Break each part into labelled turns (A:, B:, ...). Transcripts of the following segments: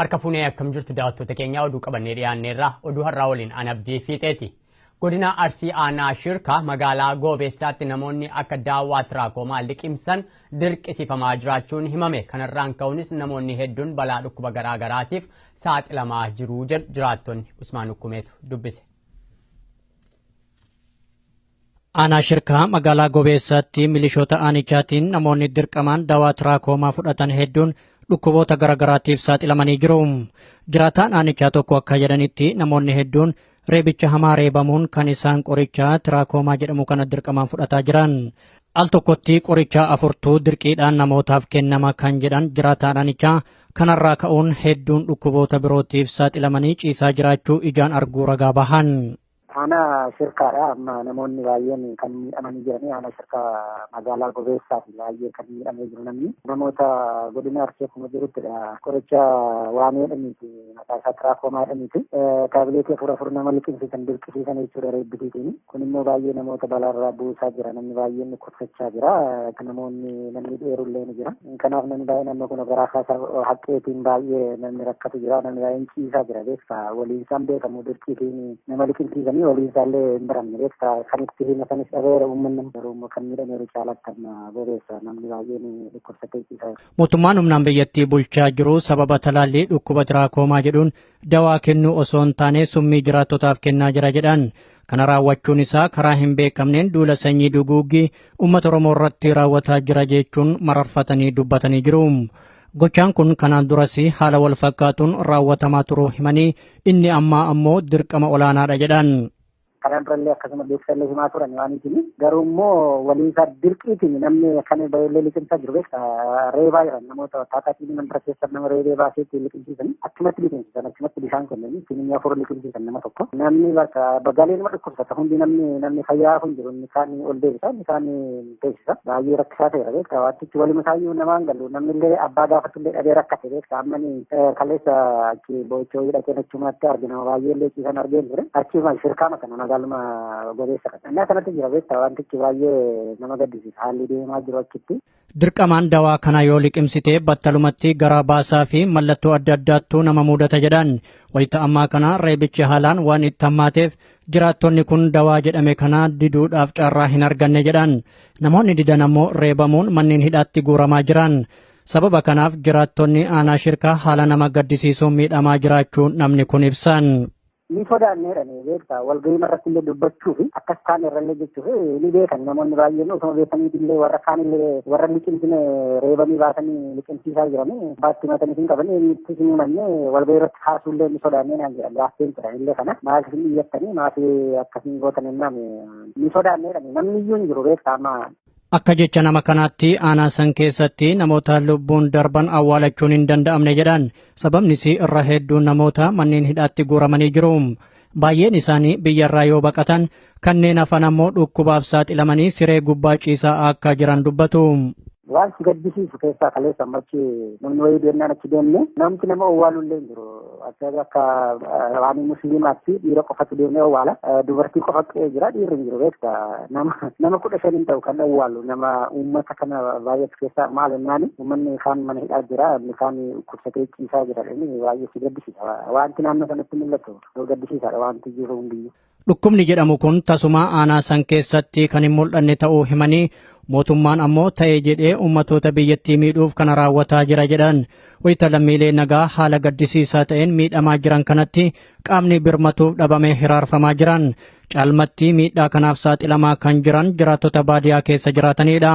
A: Harka fuunee akkam jirtu daawwattoota keenyaa oduu qabannee dhiyaanneerra oduu har'aa waliin an abdii fiixeeti. Godina Arsii Aanaa Shirkaa magaalaa Goobeessaatti namoonni akka daawwaa tiraakomaa liqimsan dirqisifamaa jiraachuun himame. Kanarraan ka'uunis namoonni hedduun balaa dhukkuba garaa garaatiif saaxilamaa jiru jedhu jiraattonni Usmaan Ukkumeetu dubbise.
B: Aanaa Shirkaa magaalaa Gobeessaatti milishoota aanichaatiin namoonni dirqamaan dawaa tiraakoomaa fudhatan hedduun dhukkuboota garaagaraatiif saaxilamanii jiru. Jiraataan aanichaa tokko akka jedhanitti namoonni hedduun reebicha hamaa reebamuun kan isaan qorichaa tiraakoomaa jedhamu kana dirqamaan fudhataa jiran. Al tokkotti qorichaa afurtuu dirqiidhaan namootaaf kennama kan jedhan jiraataan aanichaa Kanarraa ka'uun hedduun dhukkuboota birootiif saaxilamanii ciisaa jiraachuu ijaan arguu ragaa bahan. Aanaa
C: shirkaadha amma namoonni baay'een kan miidhamanii jiranii aanaa shirkaa magaalaa gobeessaa fi baay'ee kan miidhamee jiru namni namoota godina arsee kuma jiruttidha qoricha waamee dhaniiti Maqaa isaa tiraakomaa jedhaniiti. Taabileetii afur afur nama liqimsiisan dirqisiisan jechuudha reebbisiitiin. Kun immoo baay'ee namoota balaarraa buusaa jira. Namni baay'een dhukkubsachaa jira. Namoonni namni dheerullee ni jira. Kanaaf namni baay'ee naannoo kun garaa kaasa haqqeetiin baay'ee namni rakkatu jira. Namni baay'een ciisaa jira beekta. Waliin isaan beekamu dirqiitiin nama liqimsiisanii waliin isaallee hin baramne beekta. Kan itti hima sanis dhabeera uummanni garuu immoo kan miidhameeru caalatti amma bobeessa namni baay'een dhukkubsatee ciisaa jira. Mootummaan humnaan biyyattii
B: bulchaa jiru sababa talaallii dhukkuba tiraakoomaa jedhuun dawaa kennuu osoo hin taane summii jiraattotaaf kennaa jira jedhan. Kana raawwachuun isaa karaa hin beekamneen duula sanyii duguuggii uummata Oromoo irratti raawwataa jira jechuun mararfatanii dubbatanii jiru. Gochaan kun kanaan duras haala wal fakkaatuun raawwatamaa turuu himanii inni ammaa ammoo dirqama olaanaadha jedhan. Kanaan durallee
C: akkasuma beeksisallee himaa turan waan itini. Garuu immoo waliinsaa dirqiitiin namni kan baay'ee liqimsaa jiru beekta. Reebaa jiran namoota taataatiin mandara keessa nama reebee baasee ittiin liqimsiisan achumatti liqimsiisan achumatti bishaan kennanii ittiin inni afur liqimsiisan nama tokko. Namni bakka bagaalee nama dhukkubsata hundi namni namni fayyaa kun jiru inni kaan ol deebisa inni kaan teessisa. Baay'ee rakkisaa ta'eera beektaa waantichi waluma isaayyuu namaan galu namni illee abbaa gaafatu illee dhabee rakkate beektaa ammani kaleessa achi boo'ichoo hidhatee nachumaatti arge nama baay'ee illee ciisan argeen ture achiuma shirkaama kana magaaluma gobeessa kana innaa kanatti jira beektaa waantichi baay'ee nama gaddisiisa haalli deemaa jiru achitti. Dirqamaan dawaa
B: kana yoo liqimsitee battalumatti garaa baasaa fi mallattoo adda addaattu nama muudata jedhan. Wayita ammaa kana reebichi haalaan waan itti hammaateef Jiraattonni kun dawaa jedhame kana diduudhaaf carraa hin arganne jedhan. Namoonni didan ammoo reebamuun manneen hidhaatti guuramaa jiran. Sababa kanaaf jiraattonni aanaa shirkaa haala nama gaddisiisuun miidhamaa jiraachuu namni kun ibsan. ni sodaannee
C: jedhanii beektaa walgahii irratti illee dubbachuu fi akkas kaan irrallee jechuuf ni beekan namoonni baay'een osoo beekanii illee warra kaan illee warra liqimsine reebanii baasanii liqimsiisaa jiranii baatti matanii hin qabanii eenyutti hin himanne walgahii irratti Kaasuullee ni sodaannee naan jedhan laaffeen ture illee kana maal hin iyyattanii maaf akkasiin gootan hennaan ni sodaannee jedhani namni iyyuu hin jiru beektaa amma Akka jecha nama
B: kanaatti aanaa san keessatti namoota lubbuun darban awwaalachuun hin danda'amne jedhan. Sababnis irra hedduun namoota manneen hidhaatti guuramanii jiru. Baay'een isaanii biyyarraa yoo baqatan kanneen hafan ammoo dhukkubaaf saaxilamanii siree gubbaa ciisaa akka jiran dubbatu. Waan si
C: gaddisiisu keessaa kaleessa amma achi namni wayii deemnaan achi deemne namti nama owwaalu illee hin jiru. Akka waan musliimaatti dhiira qofatu deemee owwaala. Dubartii qofa qe'ee jira dhiirri hin jiru beekta. Nama kudha shan hin ta'u kan owwaalu nama uummata kana baay'eetu keessaa maal jennaani uummanni kaan mana hidhaa jira inni kaan kursatee ciisaa jira baay'ee si gaddisiisa. Wanti naannoo sanatti mul'atu. Gaddisiisaadha wanti jiru hundiyyu. Dhukkubni jedhamu
B: kun tasumaa aanaa san keessatti kan hin mul'anne ta'uu himanii mootummaan ammoo ta'ee jedhee ummatoota biyyattii miidhuuf kana raawwataa jira jedhan. Wayita lammiilee nagaa haala gaddisiisaa ta'een miidhamaa jiran kanatti qaamni birmatuuf dhabamee hiraarfamaa jiran. Caalmatti miidhaa kanaaf saaxilamaa kan jiran jiraattota baadiyaa keessa jiraatanidha.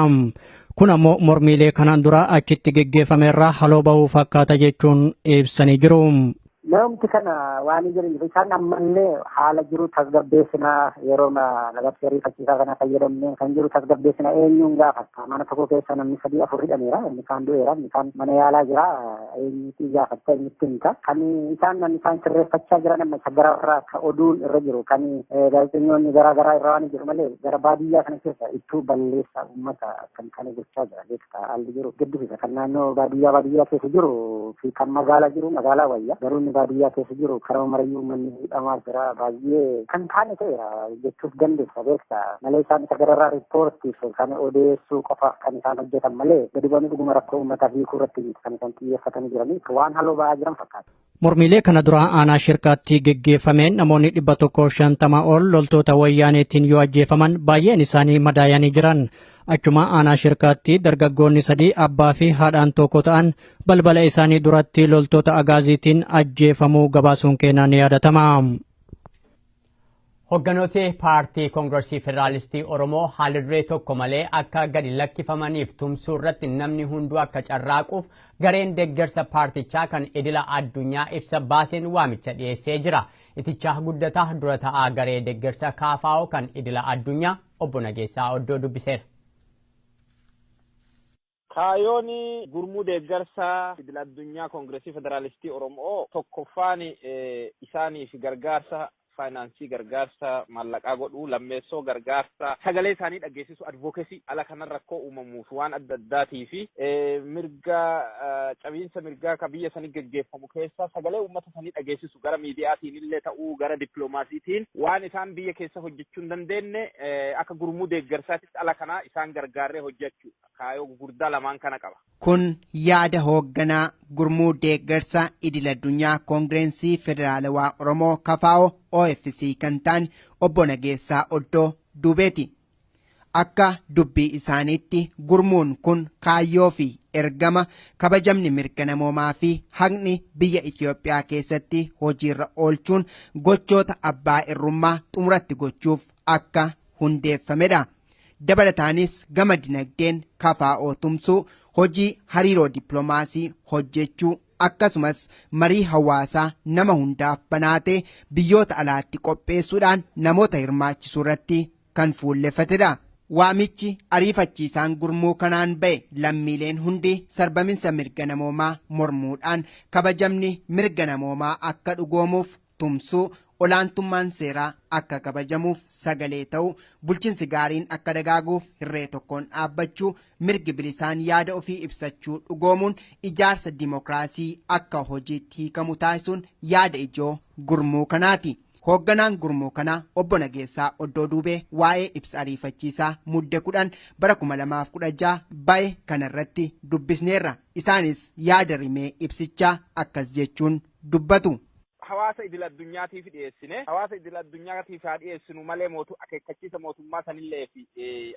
B: Kun ammoo mormiilee kanaan dura achitti geggeeffame irraa haloo bahuu fakkaata jechuun ibsanii jiru. Namoomti kana
C: waan hin jiraniif isaan ammallee haala jiru tasgabbeessinaa yeroo labsii ariifachiisaa kana fayyadamne kan jiru tasgabbeessina eenyuun gaafatta mana tokko keessa namni sadii afur hidhameera inni kaan du'eera inni kaan mana yaalaa jira eenyuutii gaafatta eenyutti himta kan isaan namni isaan sirreeffachaa jiran amma isa gara irraa ka oduun irra jiru kan gaazexeessitoonni garaa garaa irra waan jiru malee gara baadiyyaa kana keessa ittuu balleessa uummata kan kana gochaa jira beektaa haalli jiru gaddisiisa kan naannoo baadiyyaa baadiyyaa keessa jiru fi kan magaalaa jiru magaalaa wayya garuu inni baadiyyaa keessa jiru karaa marayyuu uummanni hidhamaa jira baay'ee kan taane ta'eera jechuuf dandeessa beektaa malee isaan isa gararraa riippoortiif kan odeessuu qofaaf kan isaan hojjetan malee gadi bu'anii dhuguma rakkoo uummataa hiikuu irratti kan isaan xiyyeeffatanii jiranii waan haloo ba'aa jiran fakkaata. Mormiilee
B: kana duraa aanaa shirkaatti geggeeffameen namoonni dhibba tokkoof shantama ol loltoota wayyaaneetiin yoo ajjeefaman baay'een isaanii madaayanii jiran. Achuma aanaa shirkaatti dargaggoonni sadii abbaa fi haadhaan tokko ta'an balbala isaanii duratti loltoota agaaziitiin ajjeefamuu gabaasuun keenyaa ni yaadatama.
A: Hogganooti Paartii Kongrasii Federaalistii Oromoo haalduree tokko malee akka gadi lakkifamaniif tumsuu irratti namni hunduu akka carraaquuf gareen deeggarsa paartichaa kan idila addunyaa ibsa baaseen waamicha dhiyeessee jira. Itichaa Guddataa dura ta'aa garee deeggarsa kaafaa'oo kan idila addunyaa obbo Nageessaa Oddoo dubbiseera.
D: Kaayoon gurmuu deeggarsa idil addunyaa Kongirasii Federaalistii Oromoo tokkoffaan isaaniif gargaarsa faayinaansii, gargaarsa maallaqaa godhuu, lammeessoo gargaarsa sagalee isaanii dhaggeessisuu, advocacy, ala kanan rakkoo uumamuuf waan adda addaatiif mirga cabiinsa mirgaa ka biyya sanii geggeeffamu keessa sagalee uummata sanii dhageessisu gara miidiyaatiin illee ta'uu gara dippiloomaasiitiin waan isaan biyya keessa hojjechuu hin dandeenye akka gurmuu deeggarsaatitti ala kanaa isaan gargaarree hojjechuu. kaayoo gugurdaa lamaan kana qaba. Kun yaada
E: hoogganaa gurmuu deeggarsa idil addunyaa koongireensii federaalawaa Oromoo kafaa'oo OFC kan ta'an obbo Nageessaa Oddoo duubeeti. Akka dubbii isaaniitti gurmuun kun kaayyoo fi ergama kabajamni mirga namoomaa fi haqni biyya Itoophiyaa keessatti hojiirra oolchuun gochoota abbaa irrummaa xumuratti gochuuf akka hundeeffamedha. Dabalataanis gama dinagdeen kafaa'oo tumsuu, hojii hariiroo dippiloomaasii hojjechuu akkasumas marii hawaasaa nama hundaaf banaa ta'e biyyoota alaatti qopheessuudhaan namoota hirmaachisuu irratti kan fuulleffatedha. Waamichi ariifachiisaan gurmuu kanaan ba'e lammiileen hundi sarbaminsa mirga namoomaa mormuudhaan kabajamni mirga namoomaa akka dhugoomuuf tumsuu, olaantummaan seeraa akka kabajamuuf sagalee ta'uu, bulchinsi gaariin akka dagaaguuf hirree tokkoon dhaabbachuu, mirgi bilisaan yaada ofii ibsachuu dhugoomuun ijaarsa dimokiraasii akka hojiitti hiikamu taasisuun yaada ijoo gurmuu kanaati. Hoogganaan gurmuu kanaa obbo Nageessaa Oddoo Duubee waa'ee ibsa ariifachiisaa Mudde 10 bara 2016 ba'e kanarratti dubbisneerra. Isaanis yaada rimee ibsichaa akkas jechuun dubbatu. hawaasa idil
D: addunyaatiif dhiyeessine hawaasa idil addunyaatiif haa dhiyeessinu malee mootu akeekkachiisa mootummaa sanillee fi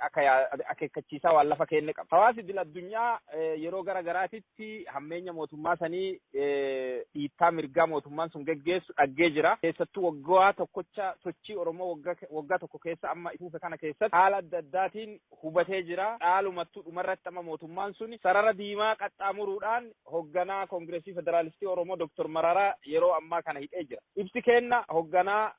D: akka yaa- akeekkachiisaa waan lafa keenne qaba. Hawaasi idil addunyaa eh, yeroo gara garaatitti hammeenya mootummaa sanii eh, dhiittaa mirgaa mootummaan sun geggeessu dhaggee jira. Keessattuu waggaa tokkocha sochii Oromoo waggaa waggaa tokko keessa amma ifuufe kana keessatti haala adda addaatiin hubatee jira. Dhaalumattuu dhumarratti amma mootummaan suni sarara diimaa qaxxaamuruudhaan hogganaa Kongiresii Federaalistii Oromoo Doktor Mararaa yeroo ammaa kana hidhee jira. Ibsi keenna hogganaa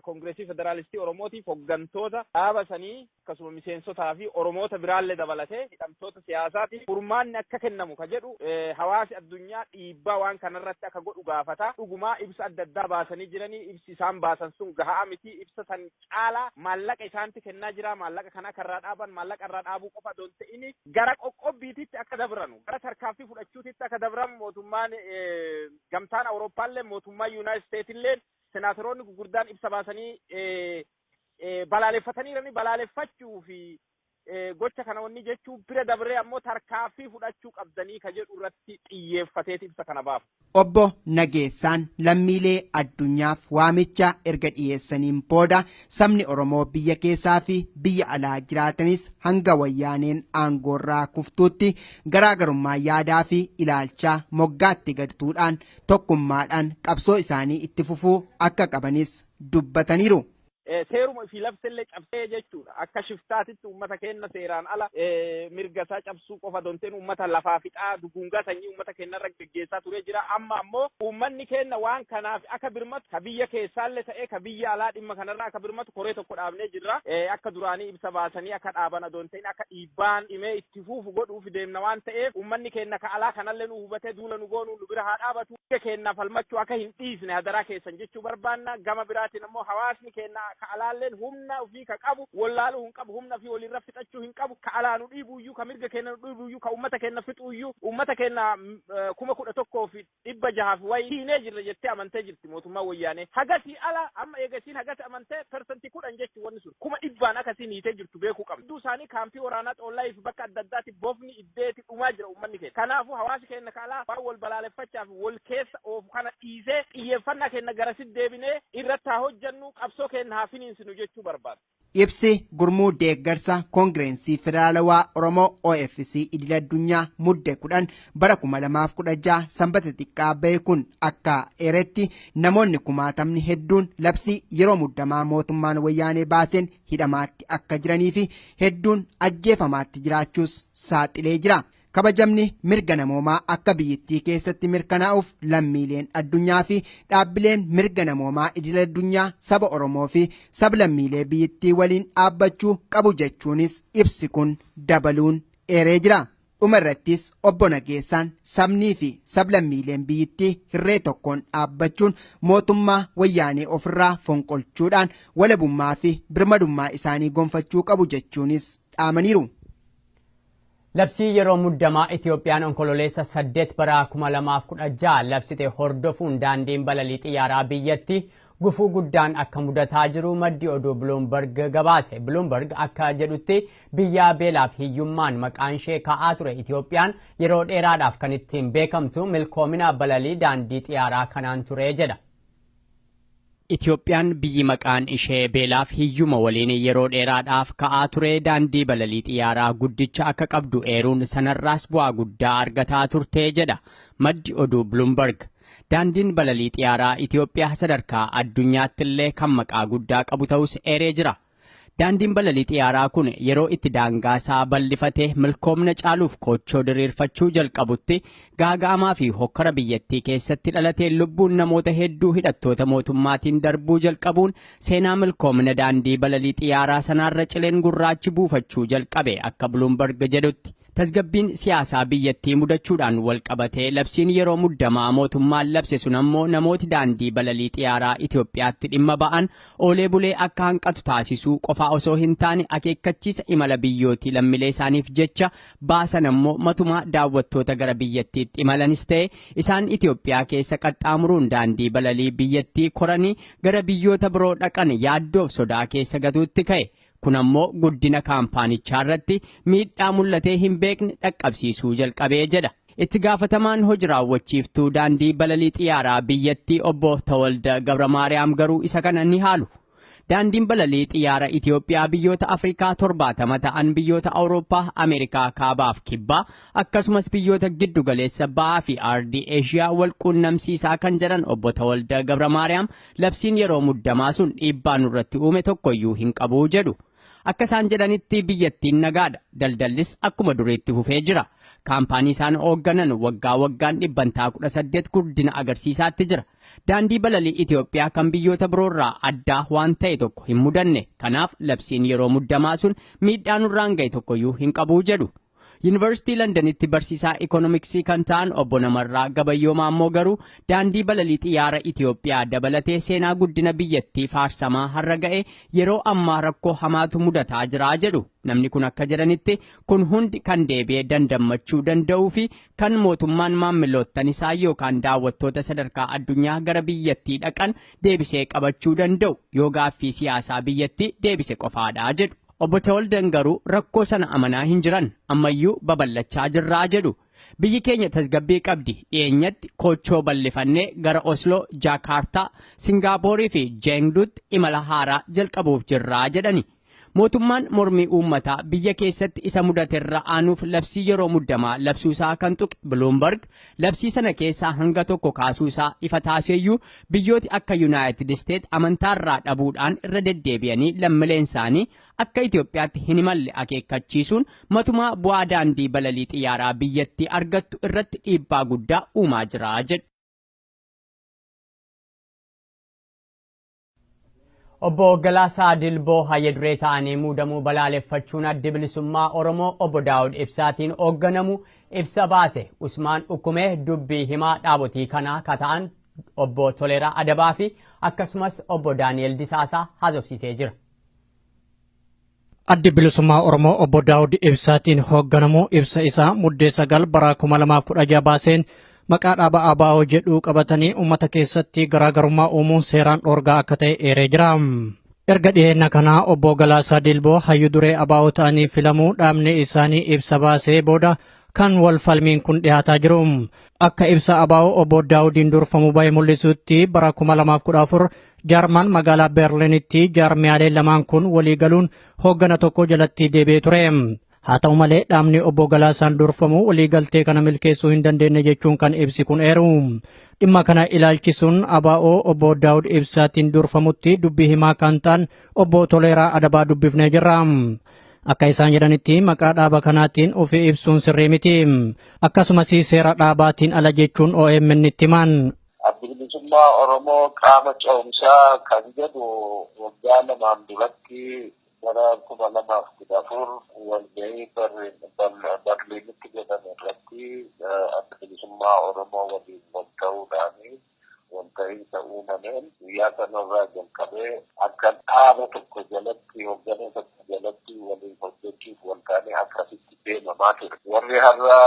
D: Kongiresii Federaalistii Oromootiif hoggantoota dhaaba sanii akkasuma miseensotaa fi Oromoota biraallee dabalatee hidhamtoota siyaasaatiif furmaanni akka kennamu ka jedhu hawaasi addunyaa dhiibbaa waan kanarratti akka godhu gaafata. Dhugumaa ibsa adda addaa baasanii jiranii ibsi isaan baasan sun gahaa miti. Ibsa san caalaa maallaqa isaanti kennaa jiraa maallaqa kana akka irraa dhaaban maallaqa irraa dhaabuu qofa don ta'ini gara qoqqobbiititti akka dabranu gara tarkaaffii fudhachuutitti akka dabran mootummaan gamtaan awurooppaallee mootummaan yuunaayit isteetilleen senaataroonni gurguddaan ibsa baasanii balaaleffataniirani balaaleffachuu fi gocha kana wanni jechuu bira dabree ammoo tarkaaffii fudhachuu qabdanii ka jedhu irratti xiyyeeffateeti ibsa kana baafa. Obbo
E: Nageessaan lammiilee addunyaaf waamicha erga dhiyeessaniin booda sabni Oromoo biyya keessaa fi biyya alaa jiraatanis hanga wayyaaneen aangoorraa kuftuutti garaagarummaa yaadaa fi ilaalchaa moggaatti gad tuudhaan tokkummaadhaan qabsoo isaanii itti fufuu akka qabanis dubbataniiru. seeruma
D: ofii labsellee cabsee jechuudha. Akka shiftaatitti uummata keenna seeraan ala mirga isaa cabsuu qofa donteen uummata lafaa fixaa duguungaa sanyii uummata keenna irra geggeessaa turee jira. Amma ammoo uummanni keenna waan kanaaf akka birmatu ka biyya keessaallee ta'ee ka biyya alaa dhimma kanarraa akka birmatu koree tokko dhaabnee jirra. Akka duraanii ibsa baasanii akka dhaaban adoonteen akka dhiibbaan dhimee itti fuufu godhuuf deemna waan ta'eef uummanni keenna ka alaa kanallee nu hubatee duula nu goonu nu bira haa dhaabatu. mirga keenna falmachuu aka hin dhiisne hadaraa keessan jechuu barbaanna. Gama biraatiin ammoo hawaasni keenna ka alaalleen humna ufii ka qabu wollaaluu hin qabu, humna ufii woliirra fixachuu hin qabu. Ka alaa nu dhiibuuyyuu, ka mirga keenna nu dhiibuuyyuu, ka ummata keenna fixuuyyuu, ummata keenna 11,600 fi wayi hiinee jirra jettee amantee jirti mootummaan Woyyaanee. Hagasii ala amma eega isiin hagas amantee percent 10 jechuu wonni sun. Kuma dhibbaan aka isiin hiitee jirtu beekuu qabna. Hedduu isaanii kaampii woraanaa Xoollaayii fi bakka adda addaati bofni, dhibdeeti dhumaa jira uummanni keenya. Kanaafuu hawaasi keenya ka alaa waan wal balaaleffachaa fi wal keessa oofu kana dhiisee xiyyeeffannaa keenya garasitti deebinee irratti haa hojjennu qabsoo keenya haa finiinsinu jechuu barbaada. Ibsi Gurmuu
E: Deeggarsa Koongireensii Federaalawaa Oromoo OFC Idil Addunyaa Mudde 10 bara 2016 Sanbata xiqqaa bahe kun akka eeretti namoonni kumaatamni hedduun labsii yeroo muddamaa mootummaan wayyaanee baaseen hidhamaatti akka jiranii fi hedduun ajjeefamaatti jiraachuus saaxilee jira. Kabajamni mirga namoomaa akka biyyittii keessatti mirkanaa'uuf lammiileen addunyaa fi dhaabbileen mirga namoomaa idil addunyaa saba Oromoo fi sablammiilee biyyittii waliin dhaabbachuu qabu jechuunis ibsi kun dabaluun eeree jira. Dhuma irrattis obbo Nageessaan sabnii fi sablammiileen biyyittii hirree tokkoon dhaabbachuun mootummaa wayyaanee ofirraa fonqolchuudhaan walabummaa fi birmadummaa isaanii gonfachuu qabu jechuunis dhaamaniiru.
A: Labsii yeroo muddamaa Itiyoophiyaan Onkololeessa 8 bara 2016 labsite hordofuun daandiin balalii xiyyaaraa biyyattii Gufuu guddaan akka mudataa jiru maddi oduu Bloomberg gabaase. Bloomberg akka jedhutti biyyaa beelaaf hiyyummaan maqaan ishee ka'aa ture Itoophiyaan yeroo dheeraadhaaf kan ittiin beekamtu milkoomina balalii daandii xiyaaraa kanaan ture jedha. Itoophiyaan biyyi maqaan ishee beelaaf hiyyuma waliin yeroo dheeraadhaaf ka'aa ture daandii balalii xiyyaaraa guddicha akka qabdu eeruun sanarraas bu'aa guddaa argataa turte jedha maddi oduu Bloomberg. Daandiin balalii xiyaaraa Itoophiyaa sadarkaa addunyaatti illee kan maqaa guddaa qabu ta'us eeree jira. Daandiin balalii xiyaaraa kun yeroo itti daangaa isaa bal'ifate milkoomna caaluuf koochoo diriirfachuu jalqabutti gaaga'amaa fi hokkara biyyattii keessatti dhalatee lubbuun namoota hedduu hidhattoota mootummaatiin darbuu jalqabuun seenaa milkoomna daandii balalii xiyaaraa sanaarra cileen gurraachi buufachuu jalqabe akka Bloomberg jedhutti. Tasgabbiin siyaasaa biyyattii mudachuudhaan walqabatee labsiin yeroo muddamaa mootummaan labse sun ammoo namooti daandii balalii xiyaaraa Itoophiyaatti dhimma ba'an oolee bulee akka hanqatu taasisuu qofaa osoo hin taane akeekkachiisa imala biyyootii lammilee isaaniif jecha baasan ammoo matumaa daawwattoota gara biyyattiitti imalanis ta'e isaan Itoophiyaa keessa qaxxaamuruun daandii balalii biyyattii koranii gara biyyoota biroo dhaqan yaaddoof sodaa keessa gatuutti ka'e. Kun ammoo guddina kaampaanichaa irratti miidhaa mul'atee hin beekne dhaqqabsiisuu jalqabee jedha. Itti gaafatamaan hoji raawwachiiftuu daandii balalii xiyyaaraa biyyattii obbo Tawalda Gabramaariyaam garuu isa kana ni haalu. Daandiin balalii xiyyaara Itoophiyaa biyyoota Afrikaa torbaatama ta'an biyyoota Awurooppaa, Ameerikaa kaabaaf kibbaa akkasumas biyyoota giddu galeessa ba'aa fi aardii Eeshiyaa wal quunnamsiisaa kan jedhan obbo Tawalda Gabramaariyaam Labsiin yeroo muddamaa sun dhiibbaa nurratti uume tokkoyyuu hin qabu jedhu. Akka isaan jedhanitti biyyattiin nagaadha. Daldallis akkuma duriitti fufee jira. Kaampaanii isaan hoogganan waggaa waggaan dhibbantaa 18 guddina agarsiisaatti jira. Daandii balalii Itoophiyaa kan biyyoota biroorraa addaa waan ta'e tokko hin mudanne. Kanaaf labsiin yeroo muddamaa sun miidhaa nurraan ga'e tokkoyyuu hin qabu jedhu. Yuunivarsiitii Landanitti barsiisaa ikoonomiksii kan ta'an obbo Namarraa Gabayyoo Maammoo garuu daandii balalii xiyyaara Itoophiyaa dabalatee seenaa guddina biyyattii faarsamaa har'a ga'e yeroo ammaa rakkoo hamaatu mudataa jira jedhu. Namni kun akka jedhanitti kun hundi kan deebi'ee dandammachuu danda'uu fi kan mootummaan maammiloottan isaa yookaan daawwattoota sadarkaa addunyaa gara biyyattii dhaqan deebisee qabachuu danda'u yoo gaaffii siyaasaa biyyattii deebise qofaadha jedhu. Obbo Tawaldan garuu rakkoo sana amanaa hin jiran, ammayyuu babal'achaa jirraa jedhu. Biyyi keenya tasgabbii qabdi, dhiyeenyatti koochoo bal'ifannee gara Osloo, Jaakaartaa, Singaapoorii fi Jeengduutti imala haaraa jalqabuuf jirra jedhani. Mootummaan mormii uummataa biyya keessatti isa mudaterra aanuuf labsii yeroo muddamaa labsuusaa kan tuqe Biluumbarg, labsii sana keessaa hanga tokko kaasuusaa ifa taaseeyyuu Biyyooti akka Yunaayitid Isteet amantaarraa dhabuudhaan irra deddeebi'anii lammileensaanii akka Itoophiyaatti hin imalle akeekkachiisuun matumaa bu'aa daandii balalii xiyyaaraa biyyattii argattu irratti dhiibbaa guddaa uumaa jira jedhu. Obbo Galaasaa Dilboo Hayya Duree ta'anii muudamuu balaaleffachuun Addi Bilisummaa Oromoo Obbo Daawud Ibsaatiin hoogganamu ibsa baase. Usmaan Ukkumee dubbii himaa dhaabotii kanaa ka ta'an Obbo Toleeraa Adabaa fi akkasumas Obbo Daani'el Disaasaa haasofsiisee jira.
B: Addi Bilisummaa Oromoo Obbo Daawud Ibsaatiin hoogganamu ibsa isaa Muddee 9 bara 2016 baaseen maqaa dhaaba ABO jedhuu qabatanii uummata keessatti garaagarummaa uumuun seeraan dhoorgaa akka ta'e eeree jira. Erga dhiyeenya kanaa Obbo Galaasaa Dilboo hayyu duree ABO ta'anii filamuu dhaabni isaanii ibsa baasee booda kan wal falmiin kun dhiyaataa jiru. Akka ibsa ABO obbo Daawudiin durfamu bahe mul'isutti bara 2014 Jarman magaalaa Berliinitti jaarmiyaalee lamaan kun walii galuun hooggana tokko jalatti deebi'ee ture. Haa ta'u malee dhaabni obbo Galaasaan durfamu waliigaltee kana milkeessuu hin dandeenye jechuun kan ibsi kun eeru. Dhimma kana ilaalchisuun ABO obbo Daawud Ibsaatiin durfamutti dubbii himaa kan ta'an obbo Toleeraa Adabaa dubbifnee jirra. Akka isaan jedhanitti maqaa dhaaba kanaatiin ofi ibsuun sirrii miti. Akkasumas seera dhaabaatiin ala jechuun OMN itti himan. Addi bilisummaa
F: Oromoo qaama ce'umsaa kan jedhu waggaa lamaan duratti bara kuma lamaaf kudha afur walgahii Barliinitti godhame irratti adda bilisummaa Oromoo waliin wal ta'uudhaani. walta'iinsa uumameen guyyaa sanarraa jalqabee akka dhaaba tokko jalatti hoggana tokko jalatti waliin hojjechuuf waltaanee akkasitti deemamaa ture. Warri har'a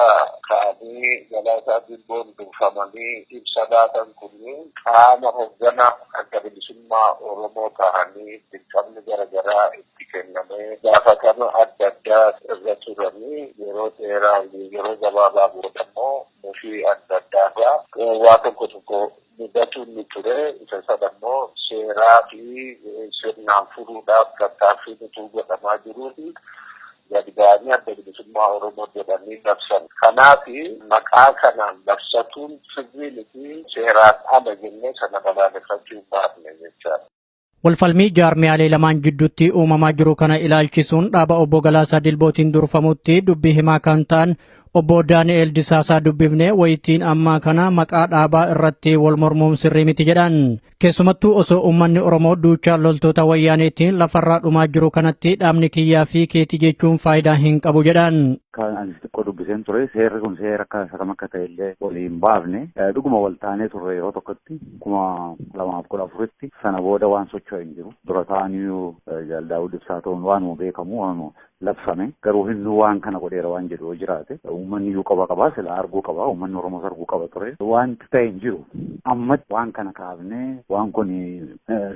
F: ka'anii Galaasaa Dilboon durfamanii ibsa laatan kunniin qaama hoggana adda bilisummaa Oromoo tahanii dirqamni gara garaa itti kennamee gaafatama adda addaa irra turanii yeroo dheeraa yeroo gabaabaa boodammoo Mufii adda addaa irraa waa tokko tokko mudatu ni ture. Isa sana immoo seeraa fi sirnaan furuudhaaf tattaaffiin utuu godhamaa jiruuti gad ba'anii Adda Bilisummaa Oromoo jedhanii labsan. Kanaaf maqaa kanaan labsatuun sirrii miti, seeraan ala jennee sana balaaleffachuu hin baafne jechaadha. Walfalmii
B: jaarmiyaalee lamaan jidduutti uumamaa jiru kana ilaalchisuun dhaaba obbo Galaasaa Dilbootiin durfamutti dubbii himaa kan ta'an obbo Daani'eel Disaasaa dubbifnee wayitiin ammaa kana maqaa dhaabaa irratti wal mormuun sirrii miti jedhan. Keessumattuu osoo uummanni Oromoo duuchaa loltoota wayyaaneetiin lafarraa dhumaa jiru kanatti dhaabni kiyyaa fi keetii jechuun faayidaa hin qabu jedhan. Kan ani xiqqoo
G: dubbiseen ture seerri kun seera akka isa kam akka ta'e illee walii hin baafne dhuguma wal taanee turre yeroo tokkotti kuma lamaaf kudha afuritti sana booda waan socho'e hin jiru. Dura ta'aniyyuu Jaal Daawud Ibsaa ta'uun waanuma beekamu waanuma labsame garuu hinnu waan kana godheera waan jedhu yoo jiraate uummanni iyyuu qaba qabaa sila arguu qaba uummanni Oromoos arguu qaba ture wanti ta'e hin jiru. Ammatti waan kana kaafnee waan kun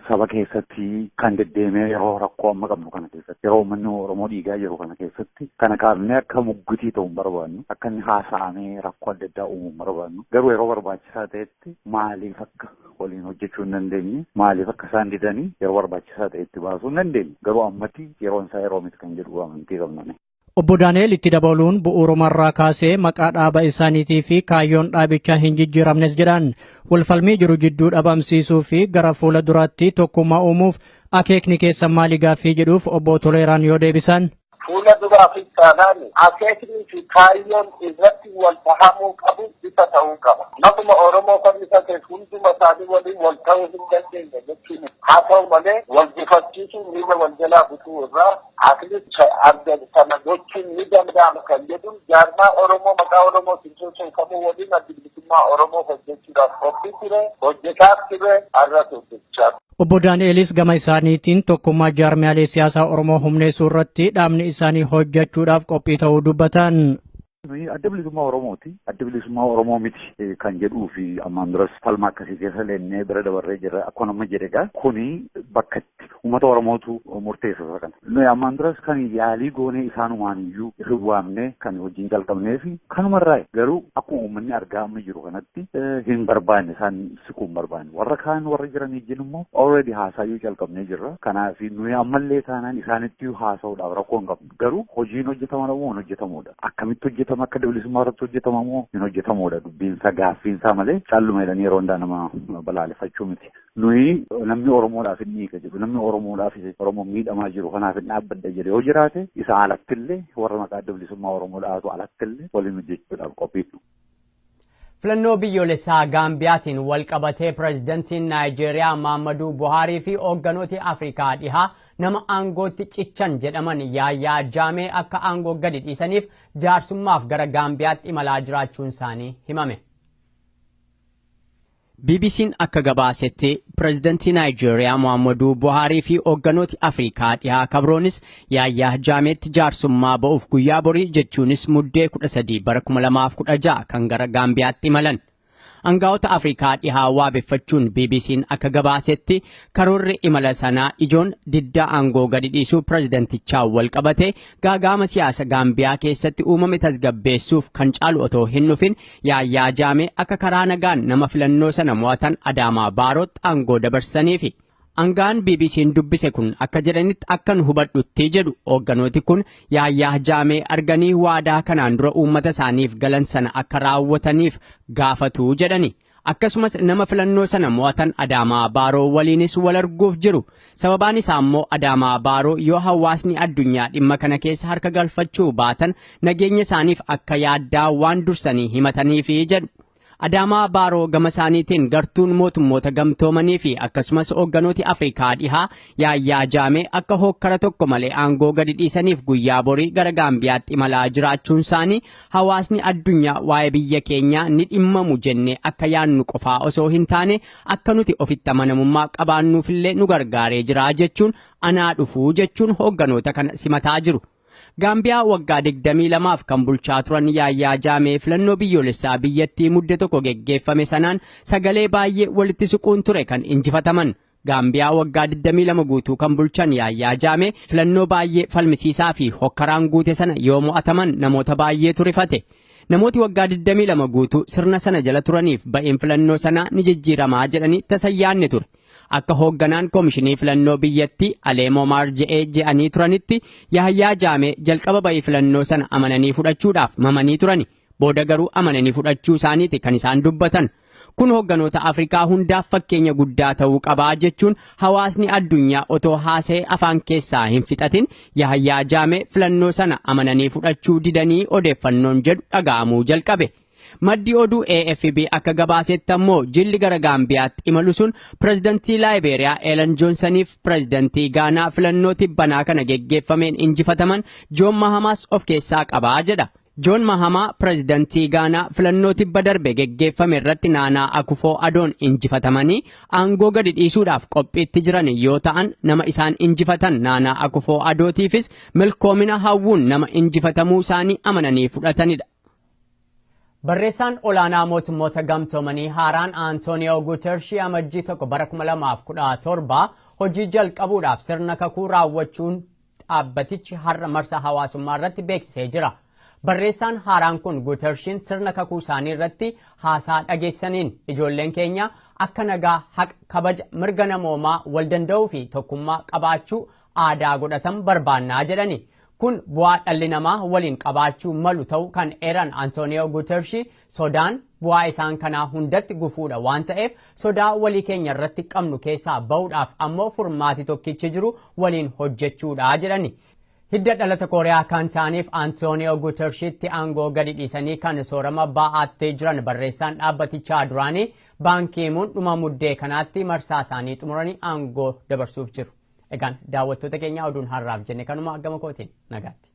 G: saba keessatti kan deddeemee yeroo rakkoo amma qabnu kana keessatti yeroo uummanni Oromoo dhiigaa jiru kana keessatti kana kaafnee akka muggutii ta'u hin barbaannu akka inni haasa'amee rakkoo adda addaa uumuu hin barbaannu garuu yeroo barbaachisaa ta'etti irratti maaliif akka waliin hojjechuu hin dandeenye maaliif akka isaan didanii yeroo barbaachisaa ta'e itti baasuu hin dandeenye garuu ammatti yeroon isaa yeroo miti kan jedhu amantii qabname. Obbo Daani'el itti
B: dabaluun bu'uurumarraa kaasee maqaa dhaaba isaaniitii fi kaayyoon dhaabichaa hin jijjiiramnes jedhan walfalmii jiru jidduu dhabamsiisuu fi gara fuula duraatti tokkummaa uumuuf akeekni keessa maali gaaffii jedhuuf obbo Toleeraan yoo deebisan. Fuula duraafis
F: taanaan akeeknii fi kaayyoon irratti wal dhahamuu qabu ifa ta'uu qaba. Maquma Oromoo fannifateef hunduma isaanii waliin wal ta'uu hin dandeenye jechuu miti. Haa ta'u malee wal gufachiisuun miila wal jalaa butuu irraa at least adda sana gochuun ni danda'ama kan jedhuun jaarmaa Oromoo maqaa Oromootiin sochoofamu waliin Addi Bilisummaa Oromoo hojjechuudhaaf qophii ture, hojjetaas ture, har'as hojjechaa Obbo Daani'elis
B: gama isaaniitiin tokkummaa jaarmiyaalee siyaasaa Oromoo humneessuu irratti dhaabni isaanii hojjechuudhaaf qophii ta'uu dubbatan. Nuyi adda
G: bilisummaa Oromooti. Adda bilisummaa Oromoo miti eh, kan jedhuu fi ammaan duras falma akkasii keessa leennee bira dabarree jirra. Akkuma nama jedhe egaa kuni bakka itti uummata Oromootu murteessa isa kana. Nuyi ammaan duras kan yaalii goonee isaanumaan iyyuu hin waamne kan hojiin jalqabnee fi kanumarraa garuu akkuma uummanni argaa amma jiru kanatti eh, hin barbaanne isaan siquu hin barbaanne. Warra kaan warra jiran ijjiin immoo already haasaayyuu calqabnee jirra. Kanaaf nuyi ammallee taanaan isaanittiyyuu haasa'uudhaaf rakkoo hin qabnu. Garuu hojiin hojjetama moo hin hojjetamuudha. Akkamitti hojjetama akka dabalisummaa irratti hojjetama moo hin hojjetamuudha dubbiinsaa gaaffiinsaa malee calluma jedhanii yeroo hundaa nama balaaleffachuu miti. Nuyi namni Oromoodhaaf hin dhiiga jedhu namni Oromoodhaaf Oromoo miidhamaa jiru kanaaf hin dhaabbadha jedhe yoo jiraate isa alattillee warra maqaa dabalisummaa Oromoo dhaatu alattillee waliin hojjechuudhaaf qophiidha.
A: Filannoo biyyoolessaa Gaambiyaatiin walqabatee Pirezidantiin Naayijeeriyaa Maammaduu Buhaarii fi hoogganooti Afrikaa Dhihaa nama aangootti cichan jedhaman Yaayaa Jaamee akka aangoo gadi dhiisaniif jaarsummaaf gara Gaambiyaatti imalaa jiraachuunsaanii himame. BBC'n akka gabaasetti pireezidantii Naayijeeriyaa Muhaammaduu Buhaarii fi hoogganooti Afrikaa dhihaa kabroonis Yaayyaa Jaameetti jaarsummaa ba'uuf guyyaa borii jechuunis Muddee 13 bara 2016 kan gara Gaambiyaatti imalan. Angaa'ota Afrikaa dhihaa waabeffachuun BBC'n akka gabaasetti karoorri imala sanaa ijoon diddaa aangoo gadi dhiisuu pireezidantichaa wal qabate gaagaama siyaasa Gaambiyaa keessatti uumame tasgabbeessuuf kan caalu otoo hin dhufin Yaayyaa Jaamee akka karaa nagaan nama filannoo sana mo'atan Adaamaa Baarootti aangoo dabarsaniifi. Angaan BBC'n dubbise kun akka jedhanitti akkan hubadhutti jedhu hoogganooti kun yaayyaa jaamee arganii waadaa kanaan dura uummata isaaniif galan sana akka raawwataniif gaafatu jedhani. Akkasumas nama filannoo sana mo'atan Adaamaa Baaroo waliinis wal arguuf jiru. Sababaan isaa immoo Adaamaa Baaroo yoo hawaasni addunyaa dhimma kana keessa harka galfachuu baatan nageenya isaaniif akka yaaddaa waan dursanii himataniifi jedhu. Adaamaa Baaroo gama isaaniitiin gartuun mootummoota gamtoomanii fi akkasumas hoogganooti Afrikaa dhihaa yaayyaa jaamee akka hookkara tokko malee aangoo gadi dhiisaniif guyyaa borii gara Gaambiyaatti imalaa jiraachuun isaanii hawaasni addunyaa waa'ee biyya keenyaa ni dhimmamu jennee akka yaannu qofaa osoo hin taane akka nuti ofitti amanamummaa qabaannuufillee nu gargaaree jira jechuun anaa dhufuu jechuun hoogganoota kana simataa jiru. Gaambiyaa waggaa 22f kan bulchaa turan Yaayyaa Jaamee filannoo biyyoolessaa biyyattii mudde tokko geggeeffame sanaan sagalee baay'ee walitti siquun ture kan injifataman. Gaambiyaa waggaa 22 guutuu kan bulchan Yaayyaa Jaamee filannoo baay'ee falmisiisaa fi hokkaraan guute sana yoo mo'ataman namoota baay'eetu rifate. Namooti waggaa 22 guutuu sirna sana jala turaniif ba'een filannoo sanaa ni jijjiiramaa jedhanii tasa hin yaadne ture. Akka hoogganaan komishinii filannoo biyyattii Aleemoo Maar Je'ee je'anii turanitti Yahayyaa Jaamee jalqaba ba'ii filannoo sana amananii fudhachuudhaaf mamanii turani. Booda garuu amananii fudhachuu isaaniiti kan isaan dubbatan. Kun hogganoota Afrikaa hundaaf fakkeenya guddaa ta'uu qabaa jechuun hawaasni addunyaa otoo haasa'e afaan keessaa hin fixatin Yahayyaa Jaamee filannoo sana amananii fudhachuu didanii odeeffannoon jedhu dhaga'amuu jalqabe. Maddi oduu AFP akka gabaasetti ammoo jilli gara Gaambiyaatti imalu sun pirezidantii Laayibeeriyaa Eelan Joonsaniif pirezidantii Gaanaa filannoo tibbanaa kana geggeeffameen injifataman Joon Mahamaas of keessaa qabaa jedha. Joon Mahamaa pirezidantii Gaanaa filannoo tibba darbe geggeeffame irratti Naanaa Akufoo Adoon injifatamanii aangoo gadi dhiisuudhaaf qophiitti jiran yoo ta'an nama isaan injifatan Naanaa Akufoo Adootiifis milkoomina hawwuun nama injifatamuu isaanii amananii fudhatanidha. Barreessaan olaanaa mootummoota gamtoomanii haaraan Antooniyoo Guutershii amajjii tokko bara 2017 hojii jalqabuudhaaf sirna kakuu raawwachuun dhaabbatichi har'a marsaa hawaasummaa irratti beeksisee jira. Barreessaan haaraan kun Gutershiin sirna kakuu isaanii irratti haasaa dhageessaniin ijoolleen keenya akka nagaa, haqa, kabaja, mirga namoomaa, wal danda'uu fi tokkummaa qabaachuu aadaa godhatan barbaannaa jedhani. Kun bu'aa dhalli namaa waliin qabaachuu malu ta'uu kan eeran Antooniyoo Gutershii Sodaan bu'aa isaan kanaa hundatti gufuudha waan ta'eef sodaa walii keenya irratti qabnu keessaa ba'uudhaaf ammoo furmaati tokkichi jiru waliin hojjechuudha jedhani. Hidda dhalata Kooriyaa kan ta'aniif Antooniyoo Gutershitti aangoo gadi dhiisanii kan soorama baa'aattee jiran barreessaan dhaabbatichaa duraanii baankiimuun dhuma muddee kanaatti marsaa isaanii xumuranii aangoo dabarsuuf jiru. Egaan daawwattoota keenya oduun har'aaf jenne kanuma gama kootiin nagaatti.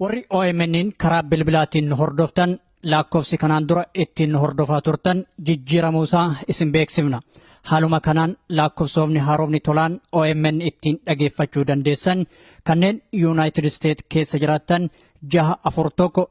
B: Warri OMN'n karaa bilbilaatiin nu hordoftan lakkoofsi kanaan dura ittiin nu hordofaa turtan jijjiiramuu isaa isin beeksifna. Haaluma kanaan lakkoofsoomni haaromni tolaan OMN ittiin dhageeffachuu dandeessan kanneen Yuunaayitid Isteet keessa jiraattan jaha afur tokko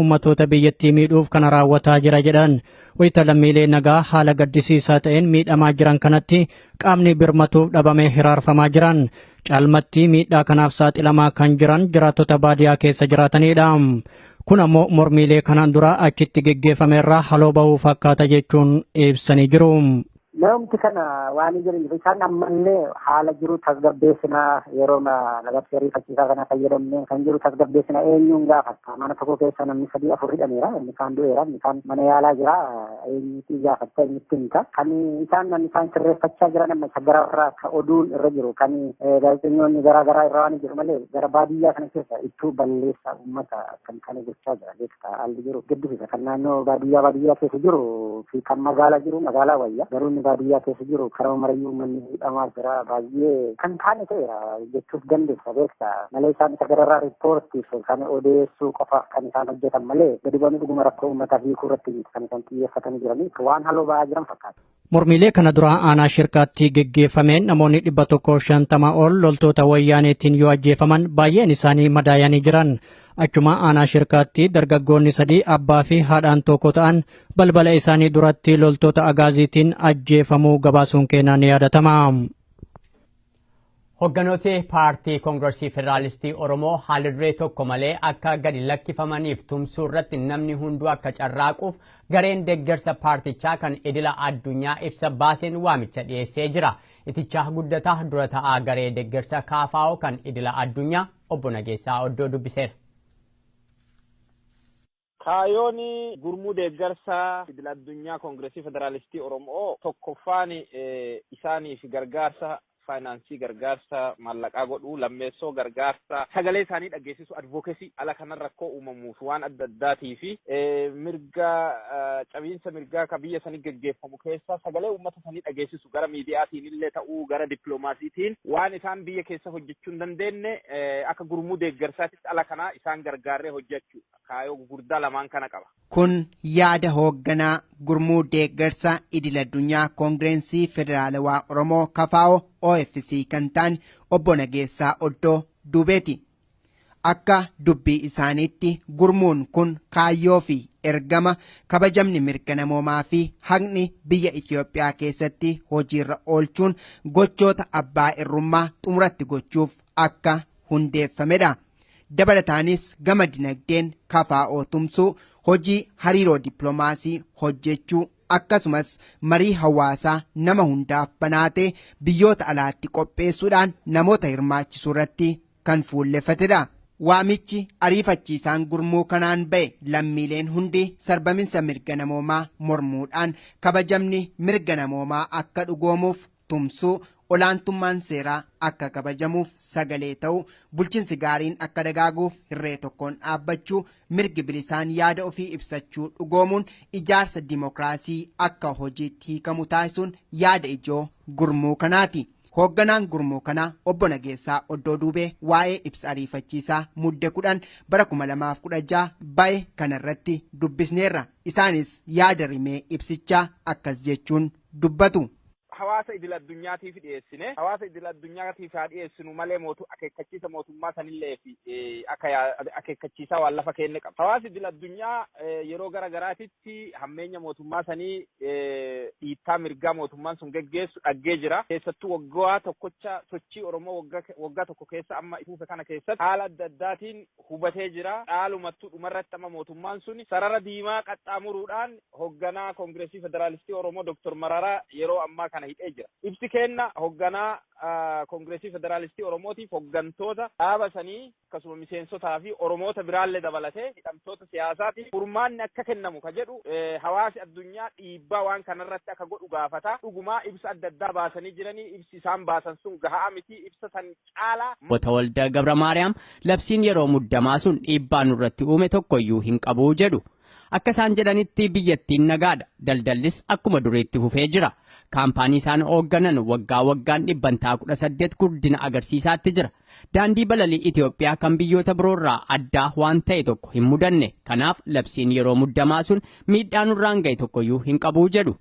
B: ummatoota biyyattii miidhuuf kana raawwataa jira jedhan wayita lammiilee nagaa haala gaddisiisaa ta'een miidhamaa jiran kanatti qaamni birmatuuf dhabamee hiraarfamaa jiran caalmatti miidhaa kanaaf saaxilamaa kan jiran jiraattota baadiyaa keessa jiraatanidha. Kun ammoo mormiilee kanaan dura achitti geggeeffamerraa haloo bahuu fakkaata jechuun ibsanii jiru. Namoomti kana
C: waan hin jiraniif isaan ammallee haala jiru tasgabbeessinaa yeroo labsii ariifachiisaa kana fayyadamne kan jiru tasgabbeessina eenyuun gaafatta mana tokko keessa namni sadii afur hidhameera inni kaan du'eera inni kaan mana yaalaa jira eenyuutii gaafatta eenyutti himta kan isaan namni isaan sirreeffachaa jiran amma isa gara irraa ka oduun irra jiru kan gaazexeessitoonni garaa garaa irra waan jiru malee gara baadiyyaa kana keessa ittuu balleessa uummata kan kana gochaa jira beektaa haalli jiru gaddisiisa kan naannoo baadiyyaa baadiyyaa keessa jiru fi kan magaalaa jiru magaalaa wayya garuu inni baadiyyaa keessa jiru karaa marayyuu uummanni hidhamaa jira baay'ee kan taane ta'eera jechuuf dandeessa beektaa malee isaan isa gararraa riippoortiif kan odeessuu qofaaf kan isaan hojjetan malee gadi bu'anii dhuguma rakkoo uummataa hiikuu irratti miti kan isaan xiyyeeffatanii jiranii waan haloo ba'aa jiran fakkaata. Mormiilee kana dura
B: aanaa shirkaatti geggeeffameen namoonni dhibba tokkoof shantama ol loltoota wayyaaneetiin yoo ajjeefaman baay'een isaanii madaayanii jiran. Achuma aanaa shirkaatti dargaggoonni sadii abbaa fi haadhaan tokko ta'an balbala isaanii duratti loltoota agaaziitiin ajjeefamuu gabaasuun keenyaa ni yaadatama.
A: Hogganooti Paartii Kongrasii Federaalistii Oromoo haalduree tokko malee akka gadi lakkifamaniif tumsuu irratti namni hunduu akka carraaquuf gareen deggersa paartichaa kan idila addunyaa ibsa baaseen waamicha dhiyeessee jira. Itichaa Guddataa dura ta'aa garee deggersa KFO kan idila addunyaa obbo Nageessaa Oddoo dubbiseera.
D: Kaayoon gurmuu deeggarsa idil addunyaa Koongiresii Federaalistii Oromoo tokkoffaan isaaniif gargaarsa faayinaansii, gargaarsa maallaqaa godhuu, lammeessoo gargaarsa sagalee isaanii dhaggeessisuu, advocacy, ala kanan rakkoo uumamuuf waan adda addaatii fi mirga cabiinsa mirgaa ka biyya sanii geggeeffamu keessa sagalee uummata sanii dhageessisu gara miidiyaatiin illee ta'uu gara dippiloomaasiitiin waan isaan biyya keessa hojjechuu hin dandeenye akka gurmuu deeggarsaatitti ala kanaa isaan gargaarree hojjechuu. kaayoo gugurdaa lamaan kana qaba. Kun yaada
E: hoogganaa gurmuu deeggarsa idil addunyaa koongireensii federaalawaa Oromoo kafaa'oo OFC kan ta'an obbo Nageessaa Oddoo duubeeti. Akka dubbii isaaniitti gurmuun kun kaayyoo fi ergama kabajamni mirga namoomaa fi haqni biyya Itoophiyaa keessatti hojiirra oolchuun gochoota abbaa irrummaa xumuratti gochuuf akka hundeeffamedha. Dabalataanis gama dinagdeen kafaa'oo tumsuu, hojii hariiroo dippiloomaasii hojjechuu akkasumas marii hawaasaa nama hundaaf banaatee biyyoota alaatti qopheessuudhaan namoota hirmaachisuu irratti kan fuulleffatedha. Waamichi ariifachiisaan gurmuu kanaan ba'e lammiileen hundi sarbaminsa mirga namoomaa mormuudhaan kabajamni mirga namoomaa akka dhugoomuuf tumsuu, olaantummaan seeraa akka kabajamuuf sagalee ta'uu, bulchinsi gaariin akka dagaaguuf hirree tokkoon dhaabbachuu, mirgi bilisaan yaada ofii ibsachuu dhugoomuun ijaarsa dimokiraasii akka hojiitti hiikamu taasisuun yaada ijoo gurmuu kanaati. Hoogganaan gurmuu kanaa obbo Nageessaa Oddoo Duubee waa'ee ibsa ariifachiisaa mudde 10 bara 2016 ba'e kanarratti dubbisneerra. Isaanis yaada rimee ibsichaa akkas jechuun dubbatu. hawaasa idil
D: addunyaatiif dhiyeessine. Hawaasa idil addunyaatiif haa dhiyeessinu malee mootu akeekkachiisa mootummaa sanillee fi akka yaa akeekkachiisaa waan lafa keenne qabna. Hawaasi idil addunyaa yeroo gara garaatitti hammeenya mootummaa sanii dhiittaa mirgaa mootummaan sun geggeessu dhaggee jira. Keessattuu waggaa tokkocha sochii Oromoo waggaa tokko keessa amma ifuufe kana keessatti haala adda addaatiin hubatee jira. Dhaalumattuu dhumarratti amma mootummaan sun sarara diimaa qaxxaamuruudhaan hogganaa Koongireesii Federaalistii Oromoo Dr. Mararaa yeroo ammaa kana hidhee jira. Ibsi keenna hogganaa Koongireesii Federaalistii Oromootiif hoggantoota dhaaba sanii akkasuma miseensotaa fi Oromoota biraallee dabalatee hidhamtoota siyaasaatiif furmaanni akka kennamu ka jedhu hawaasi addunyaa dhiibbaa waan kanarratti akka godhu gaafata. Dhugumaa ibsa adda addaa baasanii jiranii ibsi isaan baasan sun gahaa miti ibsa san caalaa. Obbo Tawalda
A: Gabramaariyaam labsiin yeroo muddamaa sun dhiibbaa nurratti uume tokkoyyuu hin qabu jedhu. Akka isaan jedhanitti biyyattiin nagaadha. Daldallis akkuma duriitti fufee jira. Kaampaanii isaan hoogganan waggaa waggaan dhibbantaa 18 guddina agarsiisaatti jira. Daandii balalii Itoophiyaa kan biyyoota biroorraa addaa waan ta'e tokko hin mudanne. Kanaaf labsiin yeroo muddamaa sun miidhaa nurraan ga'e tokkoyyuu hin qabu jedhu.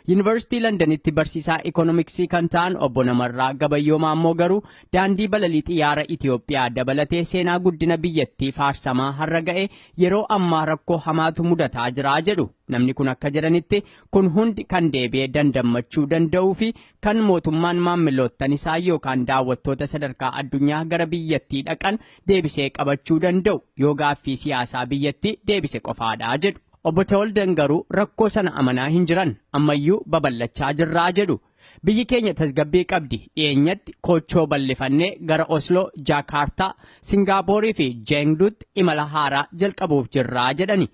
A: Yuunivarsiitii Landanitti barsiisaa ikoonomiksii kan ta'an obbo Namarraa Gabayyoo Maammoo garuu daandii balalii xiyyaara Itoophiyaa dabalatee seenaa guddina biyyattii faarsamaa har'a ga'e yeroo ammaa rakkoo hamaatu mudataa jira jedhu. Namni kun akka jedhanitti kun hundi kan deebi'ee dandammachuu danda'uu fi kan mootummaan maammiloottan isaa yookaan daawwattoota sadarkaa addunyaa gara biyyattii dhaqan deebisee qabachuu danda'u yoo gaaffii siyaasaa biyyattii deebise qofaadha jedhu. Obbo Tawaldan garuu rakkoo sana amanaa hin jiran, ammayyuu babal'achaa jirraa jedhu. Biyyi keenya tasgabbii qabdi, dhiyeenyatti koochoo bal'ifannee gara Osloo, Jaakaartaa, Singaapoorii fi Jeengduutti imala haaraa jalqabuuf jirraa jedhani.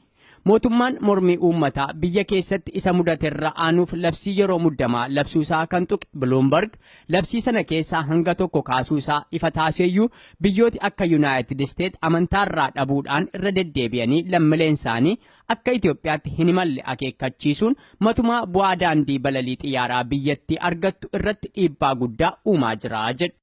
A: Mootummaan mormii uummataa biyya keessatti isa mudaterra aanuuf labsii yeroo muddamaa labsuusaa kan tuqe Biluumbarg, labsii sana keessaa hanga tokko kaasuusaa ifa taaseeyyuu Biyyooti akka Yunaayitid Isteet amantaarraa dhabuudhaan irra deddeebi'anii lammileensaanii akka Itoophiyaatti hin imalle akeekkachiisuun matumaa bu'aa daandii balalii xiyyaaraa biyyattii argattu irratti dhiibbaa guddaa uumaa jira jedhu.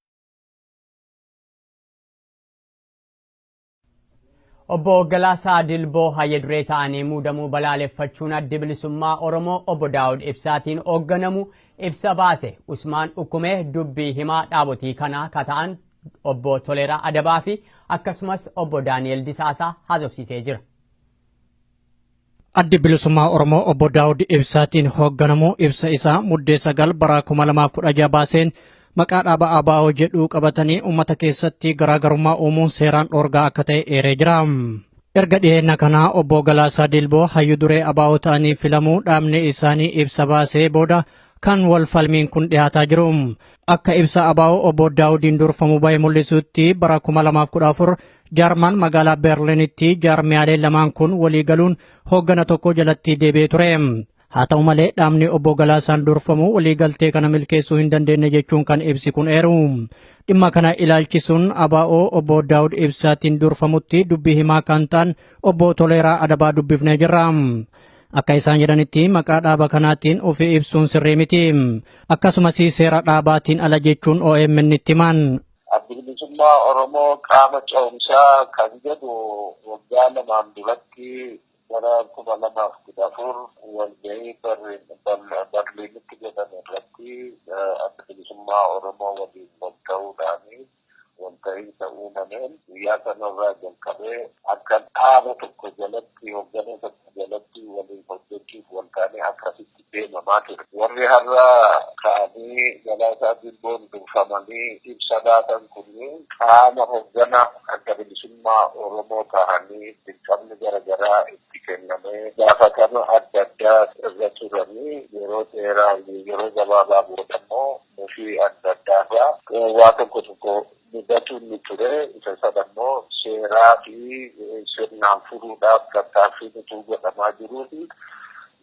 A: Obbo Galaasaa Dilboo Hayya Duree ta'anii muudamuu balaaleffachuun Addi Bilisummaa Oromoo Obbo Daawud Ibsaatiin hoogganamu ibsa baase. Usmaan Ukkumee dubbii himaa dhaabotii kanaa ka ta'an Obbo Toleeraa Adabaa fi akkasumas Obbo Daani'el Disaasaa haasofsiisee jira.
B: Addi Bilisummaa Oromoo Obbo Daawud Ibsaatiin hoogganamu ibsa isaa Muddee 9 bara 2016 baaseen maqaa dhaaba ABO jedhuu qabatanii uummata keessatti garaagarummaa uumuun seeraan dhoorgaa akka ta'e eeree jira. Erga dhiyeenya kanaa Obbo Galaasaa Dilboo hayyu duree ABO ta'anii filamuu dhaabni isaanii ibsa baasee booda kan wal falmiin kun dhiyaataa jiru. Akka ibsa ABO obbo Daawudiin durfamu bahe mul'isutti bara 2014 Jarman magaalaa Berliinitti jaarmiyaalee lamaan kun walii galuun hooggana tokko jalatti deebi'ee ture. Haa ta'u malee dhaabni obbo Galaasaan durfamu waliigaltee kana milkeessuu hin dandeenye jechuun kan ibsi kun eeru. Dhimma kana ilaalchisuun ABO obbo Daawud Ibsaatiin durfamutti dubbii himaa kan ta'an obbo Toleeraa Adabaa dubbifnee jirra. Akka isaan jedhanitti maqaa dhaaba kanaatiin ofi ibsuun sirrii miti. Akkasumas seera dhaabaatiin ala jechuun OMN itti himan. Addi bilisummaa
F: Oromoo qaama ce'umsaa kan jedhu waggaa lamaan duratti bara kuma lamaaf kudha afur walgahii Barliinitti jedhame irratti adda bilisummaa Oromoo waliin wal ta'uudhaan walta'iinsa uumameen guyyaa sanarraa jalqabee akka dhaaba tokko jalatti hoggana tokko jalatti waliin hojjechuuf waltaanee akkasitti deemamaa ture. Warri har'a ka'anii Galaasaa Dilboon durfamanii ibsa laatan kunniin qaama hoggana Adda Bilisummaa Oromoo tahanii dirqamni gara garaa itti kennamee gaafatama adda addaa irra turanii yeroo dheeraa yeroo gabaabaa boodammoo Nuti adda addaa irraa waa tokko tokko mudatu ni ture. Isa sana immoo seeraa fi sirnaan furuudhaaf tattaaffiin utuu godhamaa jiruuti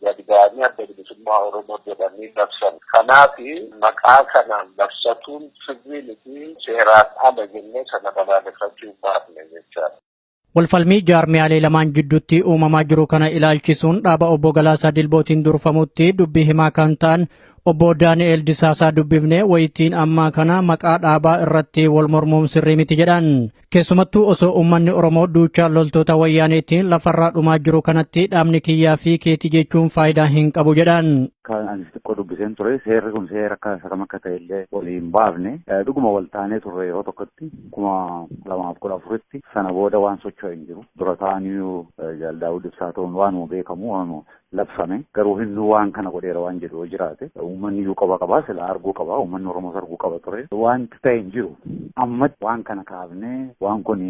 F: gad ba'anii Adda Bilisummaa Oromoo jedhanii labsan. Kanaaf maqaa kanaan labsatuun sirrii miti, seeraan ala jennee sana balaaleffachuu hin baafne jechaadha. Walfalmii
B: jaarmiyaalee lamaan jidduutti uumamaa jiru kana ilaalchisuun dhaaba obbo Galaasaa Dilbootiin durfamutti dubbii himaa kan ta'an obbo Daani'eel Disaasaa dubbifne wayitiin ammaa kana maqaa dhaabaa irratti wal mormuun sirrii miti jedhan. Keessumattuu osoo uummanni Oromoo duuchaa loltoota wayyaaneetiin lafarraa dhumaa jiru kanatti dhaabni kiyyaa fi keetii jechuun faayidaa hin qabu jedhan. Kan ani xiqqoo
G: dubbiseen ture seerri kun seera akka isa kam akka ta'e illee waliin baafne dhuguma wal taanee turre yeroo tokkotti. kuma lamaaf kudha afuritti sana booda waan socho'e hin jiru. Dura ta'aniyyuu Jaal Daawud Ibsaa ta'uun waanuma beekamu waanuma labsame garuu hunduu waan kana godheera waan jedhu yoo jiraate uummanni iyyuu qaba qaba silaa arguu qaba uummanni Oromoos arguu qaba ture wanti ta'e hin jiru. Ammatti waan kana kaafnee waan kun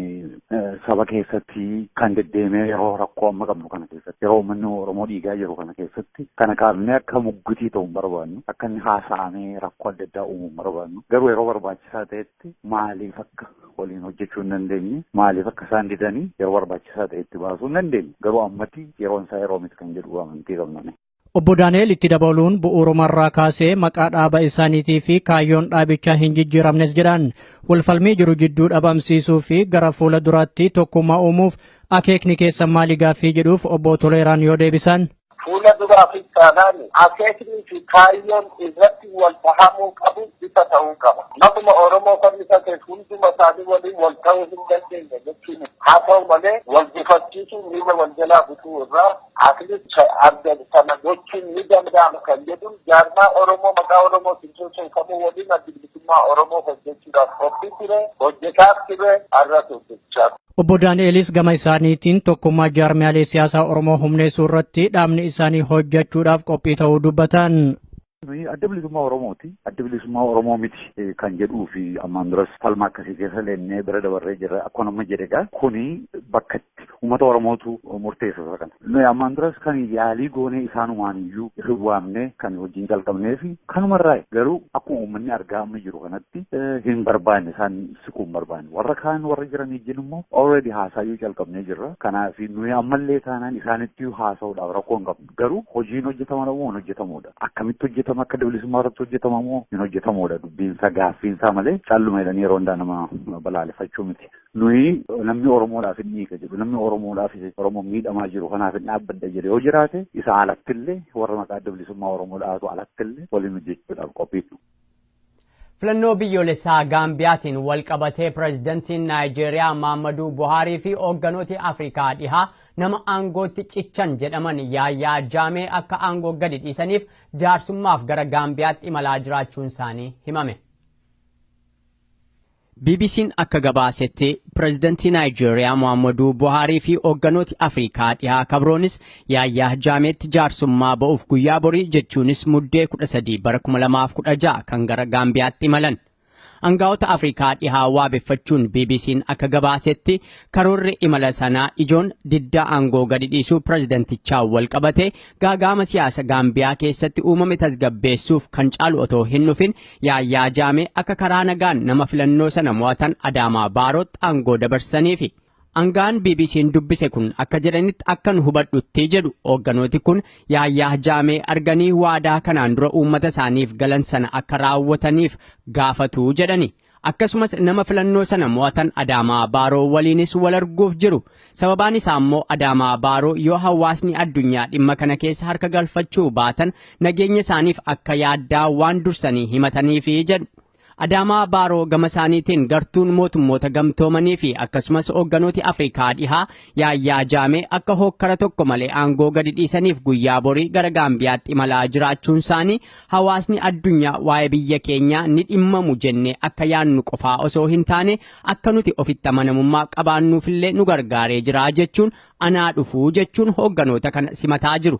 G: saba keessatti kan deddeemee yeroo rakkoo amma qabnu kana keessatti yeroo uummanni Oromoo dhiigaa jiru kana keessatti kana kaafnee akka muggutii ta'u hin barbaannu akka inni haasa'amee rakkoo adda addaa uumuu hin barbaannu garuu yeroo barbaachisaa ta'etti irratti maaliif akka waliin hojjechuu hin dandeenye maaliif akka isaan didanii yeroo barbaachisaa ta'e itti baasuu hin dandeenye garuu ammatti yeroon isaa yeroo miti kan jedhu amantii qabna. Obbo Daani'el itti
B: dabaluun bu'uurumarraa kaasee maqaa dhaaba isaaniitii fi kaayyoon dhaabichaa hin jijjiiramnes jedhan walfalmii jiru jidduu dhabamsiisuu fi gara fuula duraatti tokkummaa uumuuf akeekni keessa maali gaaffii jedhuuf obbo Toleeraan yoo deebisan. Fuula duraafis
F: taanaan akeeknii fi kaayyoon irratti wal dhahamuu qabu ifa ta'uu qaba. Maquma Oromoo fannifateef hunduma isaanii waliin wal ta'uu hin dandeenye jechuu miti. Haa ta'u malee wal gufachiisuun miila wal jalaa butuu irraa at least adda sana gochuun ni danda'ama kan jedhuun jaarmaa Oromoo maqaa Oromootiin socho'u kamuu waliin Addi Bilisummaa Oromoo hojjechuudhaaf qophii ture, hojjetaas ture, har'as hojjechaa Obbo Daani'elis
B: gama isaaniitiin tokkummaa jaarmiyaalee siyaasaa Oromoo humneessuu irratti dhaabni isaanii hojjechuudhaaf qophii ta'uu dubbatan. Adda
G: bilisummaa Oromooti. Adda bilisummaa Oromoo miti kan jedhuu fi ammaan duras falma akkasii keessa leennee bira dabarree jirra. Akkuma amma jedhe egaa kuni bakka itti uummata Oromootu murteessa isa kana. Nuyi ammaan duras kan yaalii goonee isaanumaan iyyuu hin waamne kan hojiin jalqabnee fi kanumarraa garuu akkuma uummanni argaa amma jiru kanatti hin barbaanne isaan siquu hin barbaanne. Warra kaan warra jiran ijjiin immoo already haasaayyuu calqabnee jirra. Kanaaf nuyi ammallee taanaan isaanittiyyuu haasa'uudhaaf rakkoo hin qabnu. Garuu hojiin hojjetama moo hin hojjetamuudha. Akkamitti hojjetama akka bilisummaa irratti hojjetama moo hin hojjetamuudha dubbiinsaa gaaffiinsaa malee calluma jedhanii yeroo hundaa nama balaaleffachuu miti. Nuyi namni Oromoodhaaf hin dhiiga jedhu namni Oromoodhaaf Oromoo miidhamaa jiru kanaaf hin dhaabbadda jedhe yoo jiraate isa alattillee warra maqaa adda bilisummaa Oromoo dhaatu alattillee waliin hojjechuudhaaf qophiidha.
A: Filannoo biyyoolessaa Gaambiyaatiin walqabatee Pireezidantiin Naayijeeriyaa Maammaduu Buhaarii fi hoogganooti Afrikaa Dhihaa nama aangootti cichan jedhaman Yaayaa Jaamee akka aangoo gadi dhiisaniif jaarsummaaf gara Gaambiyaatti imalaa jiraachuunsaanii himame. BBC'n akka gabaasetti pireezidantii Naayijeeriyaa Muhaammaduu Buhaarii fi hoogganooti Afrikaa dhihaa kabroonis Yaayyaa Jaameetti jaarsummaa ba'uuf guyyaa borii jechuunis Muddee 13 bara 2016 kan gara Gaambiyaatti imalan. Angaa'ota Afrikaa dhihaa waabeffachuun BBC'n akka gabaasetti karoorri imala sanaa ijoon diddaa aangoo gadi dhiisuu pireezidantichaa wal qabate gaagaama siyaasa Gaambiyaa keessatti uumame tasgabbeessuuf kan caalu otoo hin dhufin Yaayyaa Jaamee akka karaa nagaan nama filannoo sana mo'atan Adaamaa Baarootti aangoo dabarsaniifi. Angaan BBC'n dubbise kun akka jedhanitti akka nu hubadhutti jedhu hoogganooti kun yaayyaa jaamee arganii waadaa kanaan dura uummata isaaniif galan sana akka raawwataniif gaafatu jedhani. Akkasumas nama filannoo sana mo'atan Adaamaa Baaroo waliinis wal arguuf jiru. Sababaan isaa immoo Adaamaa Baaroo yoo hawaasni addunyaa dhimma kana keessa harka galfachuu baatan nageenya isaaniif akka yaaddaa waan dursanii himataniifi jedhu. Adaamaa Baaroo gama isaaniitiin gartuun mootummoota gamtoomanii fi akkasumas hoogganooti Afrikaa dhihaa yaayyaa jaamee akka hookkara tokko malee aangoo gadi dhiisaniif guyyaa borii gara Gaambiyaatti imalaa jiraachuun isaanii hawaasni addunyaa waa'ee biyya keenyaa ni dhimmamu jennee akka yaannu qofaa osoo hin taane akka nuti ofitti amanamummaa qabaannuufillee nu gargaaree jira jechuun anaa dhufuu jechuun hoogganoota kana simataa jiru.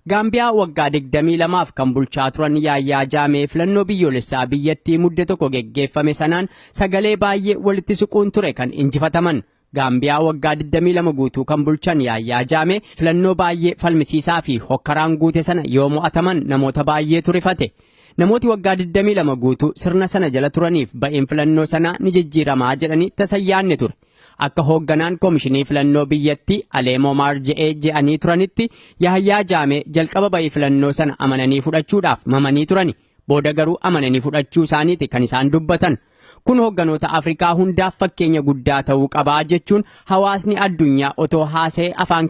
A: Gaambiyaa waggaa 22f kan bulchaa turan Yaayyaa Jaamee filannoo biyyoolessaa biyyattii mudde tokko geggeeffame sanaan sagalee baay'ee walitti siquun ture kan injifataman. Gaambiyaa waggaa 22 guutuu kan bulchan Yaayyaa Jaamee filannoo baay'ee falmisiisaa fi hokkaraan guute sana yoo mo'ataman namoota baay'eetu rifate. Namooti waggaa 22 guutuu sirna sana jala turaniif ba'een filannoo sanaa ni jijjiiramaa jedhanii tasa yaanne ture. Akka hoogganaan komishinii filannoo biyyattii Aleemoo Maarje'ee je'anii turanitti Yahayyaa Jaamee jalqaba ba'ii filannoo sana amananii fudhachuudhaaf mamanii turani. Booda garuu amananii fudhachuu isaaniiti kan isaan dubbatan. Kun hoogganoota Afrikaa hundaaf fakkeenya guddaa ta'uu qabaa jechuun hawaasni addunyaa otoo haasa'ee afaan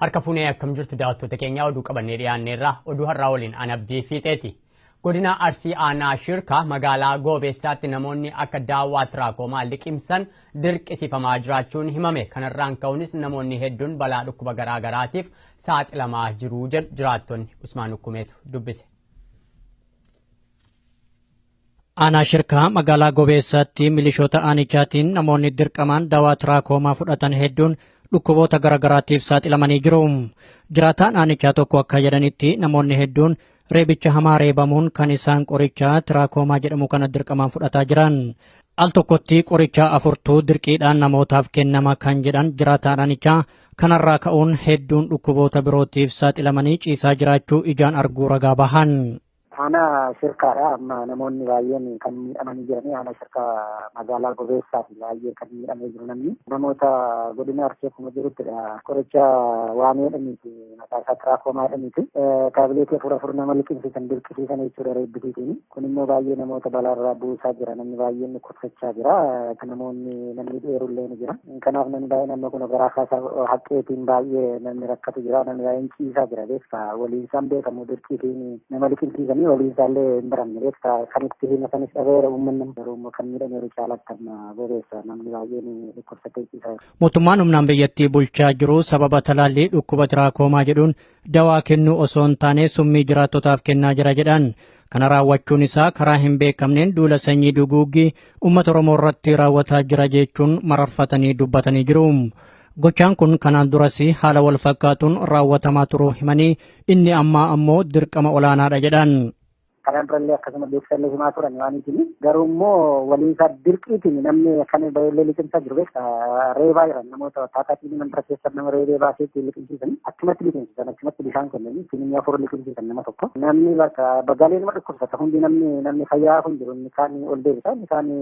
A: Harka fuunee akkam jirtu daawwattoota keenyaa oduu qabannee dhiyaanneerra oduu har'aa waliin an abdii fiixeeti. Godina Arsii Aanaa Shirkaa magaalaa Goobeessaatti namoonni akka daawwaa tiraakomaa liqimsan dirqisifamaa jiraachuun himame. Kanarraan ka'uunis namoonni hedduun balaa dhukkuba garaagaraatiif saaxilamaa jiru jedhu jiraattonni Usmaan Ukkumeetu dubbise.
B: Aanaa Shirkaa magaalaa Gobeessaatti milishoota aanichaatiin namoonni dirqamaan dawaa tiraakoomaa fudhatan hedduun dhukkuboota garaagaraatiif saaxilamanii jiru. Jiraataan aanichaa tokko akka jedhanitti namoonni hedduun reebicha hamaa reebamuun kan isaan qorichaa tiraakoomaa jedhamu kana dirqamaan fudhataa jiran. Al tokkotti qorichaa afurtuu dirqiidhaan namootaaf kennama kan jedhan jiraataan aanichaa Kanarraa ka'uun hedduun dhukkuboota birootiif saaxilamanii ciisaa jiraachuu ijaan arguu ragaa bahan. Aanaa
C: shirkaadha amma namoonni baay'een kan miidhamanii jiranii aanaa shirkaa magaalaa gobeessaati baay'ee kan miidhamee jiru namni namoota godina arsee kuma jiruttidha qoricha waamee dhamiiti Maqaa isaa tiraakomaa jedhaniiti. Taabileetii afur afur nama liqimsiisan dirqisiisan jechuudha reebbisiitiin. Kun immoo baay'ee namoota balaarraa buusaa jira. Namni baay'een dhukkubsachaa jira. Namoonni namni dheerullee ni jira. Kanaaf namni baay'ee namni kun garaa kaasaa haqqeetiin baay'ee namni rakkatu jira. Namni baay'een ciisaa jira beekta. Waliin isaan beekamu dirqiitiin nama liqimsiisanii waliin isaallee hin baramne beekta. Kan itti hima sanis dhabeera uummanni garuu immoo kan miidhameeru caalatti amma bobeessa namni baay'een dhukkubsatee ciisaa jira. Mootummaan humnaan biyyattii
B: bulchaa jiru sababa talaallii dhukkuba tiraakoomaa jedhuun dawaa kennuu osoo hin taane summii jiraattotaaf kennaa jira jedhan. Kana raawwachuun isaa karaa hin beekamneen duula sanyii duguuggii uummata Oromoo irratti raawwataa jira jechuun mararfatanii dubbatanii jiru. Gochaan kun kanaan duras haala wal fakkaatuun raawwatamaa turuu himanii inni ammaa ammoo dirqama olaanaadha jedhan. Kanaan durallee
C: akkasuma beeksisallee himaa turan waan itini. Garuu immoo waliinsaa dirqiitiin namni kan baay'ee liqimsaa jiru beekta. Reebaa jiran namoota taataatiin mandara keessa nama reebee baasee ittiin liqimsiisan achumatti liqimsiisan achumatti bishaan kennanii ittiin inni afur liqimsiisan nama tokko. Namni bakka bagaalee nama dhukkubsata hundi namni namni fayyaa kun jiru inni kaan ol deebisa inni kaan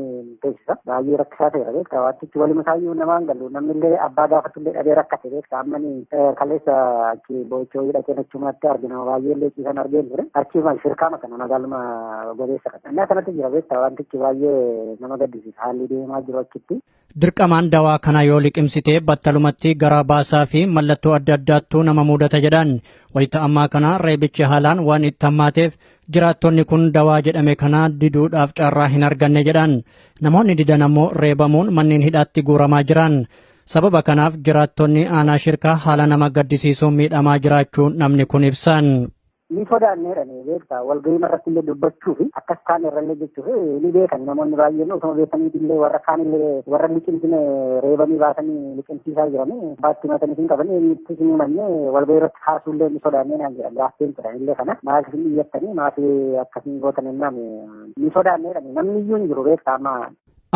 C: teessisa. Baay'ee rakkisaa ta'eera beektaa waantichi waluma isaayyuu namaan galu namni illee abbaa gaafatu illee dhabee rakkate beektaa ammani kaleessa achi boo'ichoo hidhatee nachumaatti argina baay'ee illee ciisan argeen ture achii maal shirkaama kana magaaluma gobeessa kana innaa kanatti jira beektaa waantichi baay'ee nama gaddisiisa haalli deemaa jiru achitti. Dirqamaan dawaa
B: kana yoo liqimsitee battalumatti garaa baasaa fi mallattoo adda addaattuu nama muudata jedhan. Wayita ammaa kana reebichi haalaan waan itti hammaateef Jiraattonni kun dawaa jedhame kana diduudhaaf carraa hin arganne jedhan. Namoonni didan ammoo reebamuun manneen hidhaatti guuramaa jiran. Sababa kanaaf jiraattonni aanaa shirkaa haala nama gaddisiisuun miidhamaa jiraachuu namni kun ibsan. ni sodaannee
C: jedhanii beektaa walgahii irratti illee dubbachuu fi akkas kaan irrallee jechuuf ni beekan namoonni baay'een osoo beekanii illee warra kaan illee warra liqimsine reebanii baasanii liqimsiisaa jiranii baatti matanii hin qaban eenyutti hin himanne walgahii irratti Kaasuullee ni sodaannee naan jedhan laaffeen ture illee kana maaf hin iyyattanii maaf akkasiin gootan innaan ni sodaannee jedhame namni iyyuu hin jiru beektaa amma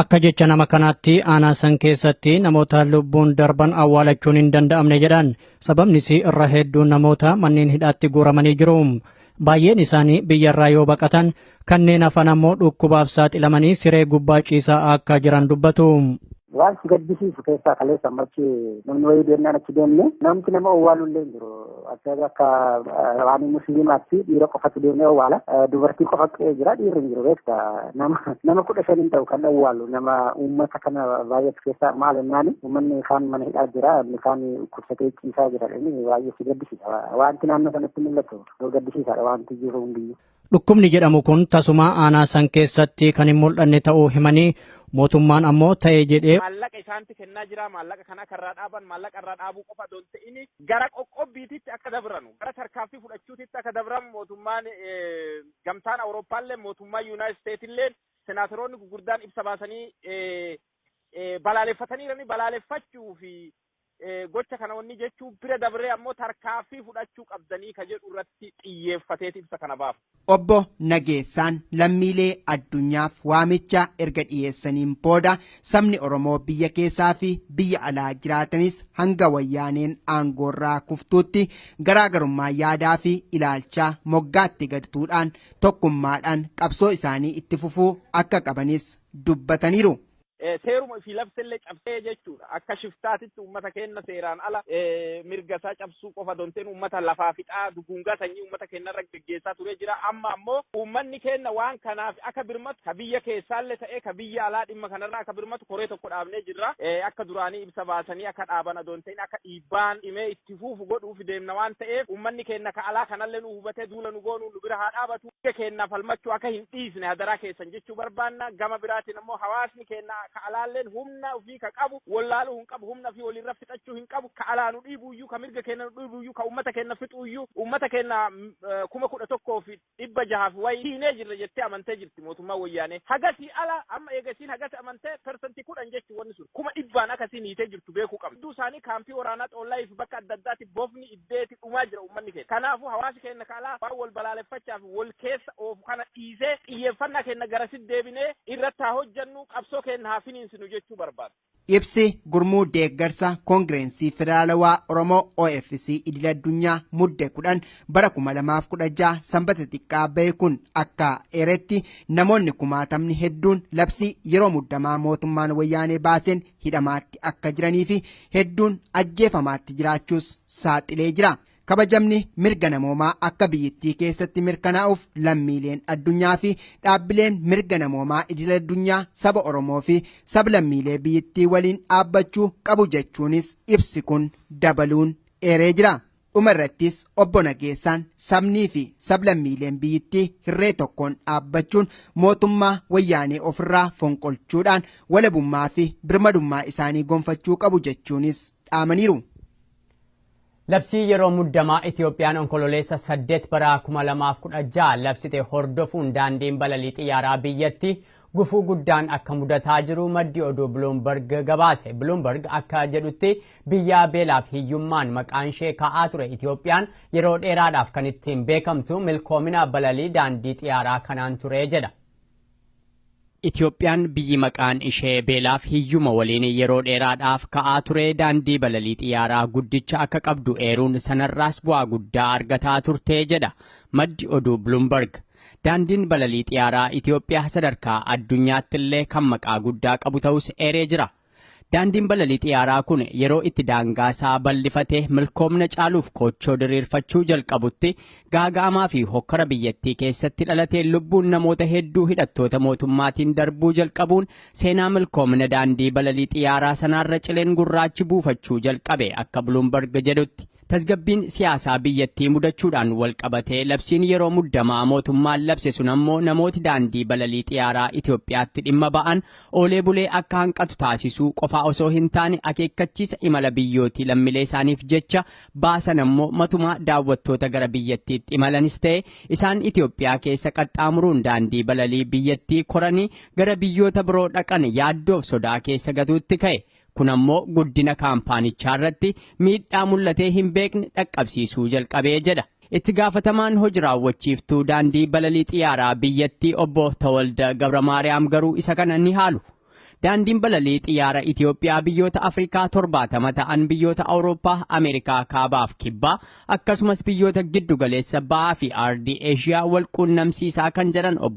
C: Akka jecha nama
B: kanaatti aanaa san keessatti namoota lubbuun darban awwaalachuun hin danda'amne jedhan. Sababnis irra hedduun namoota manneen hidhaatti guuramanii jiru. Baay'een isaanii biyyarraa yoo baqatan kanneen hafan ammoo dhukkubaaf saaxilamanii siree gubbaa ciisaa akka jiran dubbatu. Waan si
C: gaddisiisu keessaa kaleessa amma achi namni wayii deemnaan achi deemne namti nama owwaalu illee hin jiru. Akka akka waan musliimaatti dhiira qofatu deemee owwaala. Dubartii qofa qe'ee jira dhiirri hin jiru beekta. Nama nama kudha shan hin ta'u kan owwaalu nama uummata kana baay'atu keessaa maal jennaani uummanni kaan mana hidhaa jira inni kaan dhukkubsatee ciisaa jira inni baay'ee si gaddisiisa. Wanti naannoo sanatti mul'atu. Yoo gaddisiisaadha wanti jiru hundiyyuu. Dhukkubni jedhamu
B: kun tasumaa aanaa san keessatti kan hin mul'anne ta'uu himanii mootummaan ammoo ta'e jedhee maallaqa isaanti kennaa
D: jira maallaqa kana akka irraa dhaaban maallaqa irraa dhaabuu qofa osoo hin ta'in gara qoqqobbiititti akka dabranu gara tarkaanfii fudhachuutitti akka dabran mootummaan gamtaan awurooppaallee mootummaa yuunaayit isteetillee senaataroonni gurguddaan ibsa baasanii balaaleffataniirani balaaleffachuu fi gocha kana wanni jechuu bira dabree ammoo tarkaaffii fudhachuu qabdanii ka jedhu irratti xiyyeeffateeti ibsa kana baafa. Obbo
E: Nageessaan lammiilee addunyaaf waamicha erga dhiyeessaniin booda sabni Oromoo biyya keessaa fi biyya alaa jiraatanis hanga wayyaaneen aangoorraa kuftuutti garaagarummaa yaadaa fi ilaalchaa moggaatti gadtuudhaan tokkummaadhaan qabsoo isaanii itti fufuu akka qabanis dubbataniiru. seeruma
D: ofii labsellee cabsee jechuudha. Akka shiftaatitti uummata keenna seeraan ala mirga isaa cabsuu qofa donteen uummata lafaa fixaa duguungaa sanyii uummata keenna irra geggeessaa turee jira. Amma ammoo uummanni keenna waan kanaaf akka birmatu ka biyya keessaallee ta'ee ka biyya alaa dhimma kanarraa akka birmatu koree tokko dhaabnee jirra. Akka duraanii ibsa baasanii akka dhaabana donteen akka dhiibbaan dhimee itti fuufu godhuuf deemna waan ta'eef uummanni keenna ka alaa kanallee nu hubatee duula nu goonu nu bira haa dhaabatu. mirga keenyaaf falmachuu akka hin dhiisne hadaraa keessan jechuu barbaanna. Gama biraatiin ammoo hawaasni keenya ka alaalleen humna ofii ka qabu wallaaluu hin qabu, humna ofii waliirra fixachuu hin qabu, ka alaa nu dhiibuuyyuu, ka mirga keenya nu dhiibuuyyuu, ka uummata keenya fixuuyyuu, uummata keenya kuma kudha tokkoo fi dhibba jahaa fi wayi hiinee jirra jettee amantee jirti mootummaan wayyaanee. Hagasii ala amma eega isiin hagas amantee persantii kudhan jechuun wanni sun kuma dhibbaan akka isiin hiitee jirtu beekuu qabna. Hedduu isaanii kaampii waraanaa xoollaayiif bakka adda addaatti bofni beeti dhumaa jira uummanni keenya. Kanaafuu hawaasi keenya ka alaa waan wal balaaleffachaa fi wal keessa oofu kana dhiisee xiyyeeffannaa keenya garasitti deebinee irratti haa hojjannu qabsoo keenya haa finiinsinu jechuu barbaada. Ibsi Gurmuu
E: Deeggarsa Koongireensii Federaalawaa Oromoo OFC Idil Addunyaa Mudde 10 bara 2016 Sanbata xiqqaa bahe kun akka eeretti namoonni kumaatamni hedduun labsii yeroo muddamaa mootummaan wayyaanee baaseen hidhamaatti akka jiranii fi hedduun ajjeefamaatti jiraachuus saaxilee jira. Kabajamni mirga namoomaa akka biyyittii keessatti mirkanaa'uuf lammiileen addunyaa fi dhaabbileen mirga namoomaa idil addunyaa saba Oromoo fi sablammiilee biyyittii waliin dhaabbachuu qabu jechuunis ibsi kun dabaluun eeree jira. Dhuma irrattis obbo Nageessaan sabnii fi sablammiileen biyyittii hirree tokkoon dhaabbachuun mootummaa wayyaanee ofirraa fonqolchuudhaan walabummaa fi birmadummaa isaanii gonfachuu qabu jechuunis dhaamaniiru.
A: Labsii yeroo muddamaa Itiyoophiyaan onkololeessa 8 bara 2016 labsite hordofuun daandiin balalii xiyyaaraa biyyatti Gufuu guddaan akka mudataa jiru maddi oduu Bloomberg gabaase. Bloomberg akka jedhutti biyyaa beelaaf hiyyummaan maqaan ishee ka'aa ture Itoophiyaan yeroo dheeraadhaaf kan ittiin beekamtu milkoomina balalii daandii xiyaaraa kanaan ture jedha. Itoophiyaan biyyi maqaan ishee beelaaf hiyyuma waliin yeroo dheeraadhaaf ka'aa ture daandii balalii xiyyaaraa guddicha akka qabdu eeruun sanarraas bu'aa guddaa argataa turte jedha maddi oduu Bloomberg. Daandiin balalii xiyaaraa Itoophiyaa sadarkaa addunyaatti illee kan maqaa guddaa qabu ta'us eeree jira. Daandiin balalii xiyaaraa kun yeroo itti daangaa isaa bal'ifatee milkoomna caaluuf koochoo diriirfachuu jalqabutti gaaga'amaa fi hokkara biyyattii keessatti dhalatee lubbuun namoota hedduu hidhattoota mootummaatiin darbuu jalqabuun seenaa milkoomna daandii balalii xiyaaraa sanaarra cileen gurraachi buufachuu jalqabe akka Bloomberg jedhutti. Tasgabbiin siyaasaa biyyattii mudachuudhaan walqabatee labsiin yeroo muddamaa mootummaan labse sun ammoo namooti daandii balalii xiyaaraa Itoophiyaatti dhimma ba'an oolee bulee akka hanqatu taasisuu qofaa osoo hin taane akeekkachiisa imala biyyootii lammilee isaaniif jecha baasan ammoo matumaa daawwattoota gara biyyattiitti imalanis ta'e isaan Itoophiyaa keessa qaxxaamuruun daandii balalii biyyattii koranii gara biyyoota biroo dhaqan yaaddoof sodaa keessa gatuutti ka'e. Kun ammoo guddina kaampaanichaa irratti miidhaa mul'atee hin beekne dhaqqabsiisuu jalqabee jedha. Itti gaafatamaan hoji raawwachiiftuu daandii balalii xiyyaaraa biyyattii obbo Tawalda Gabramaariyaam garuu isa kana ni haalu. Daandiin balalii xiyyaara Itoophiyaa biyyoota Afrikaa torbaatama ta'an biyyoota Awurooppaa, Ameerikaa kaabaaf kibbaa akkasumas biyyoota giddu galeessa ba'aa fi aardii Eeshiyaa wal quunnamsiisaa kan jedhan obbo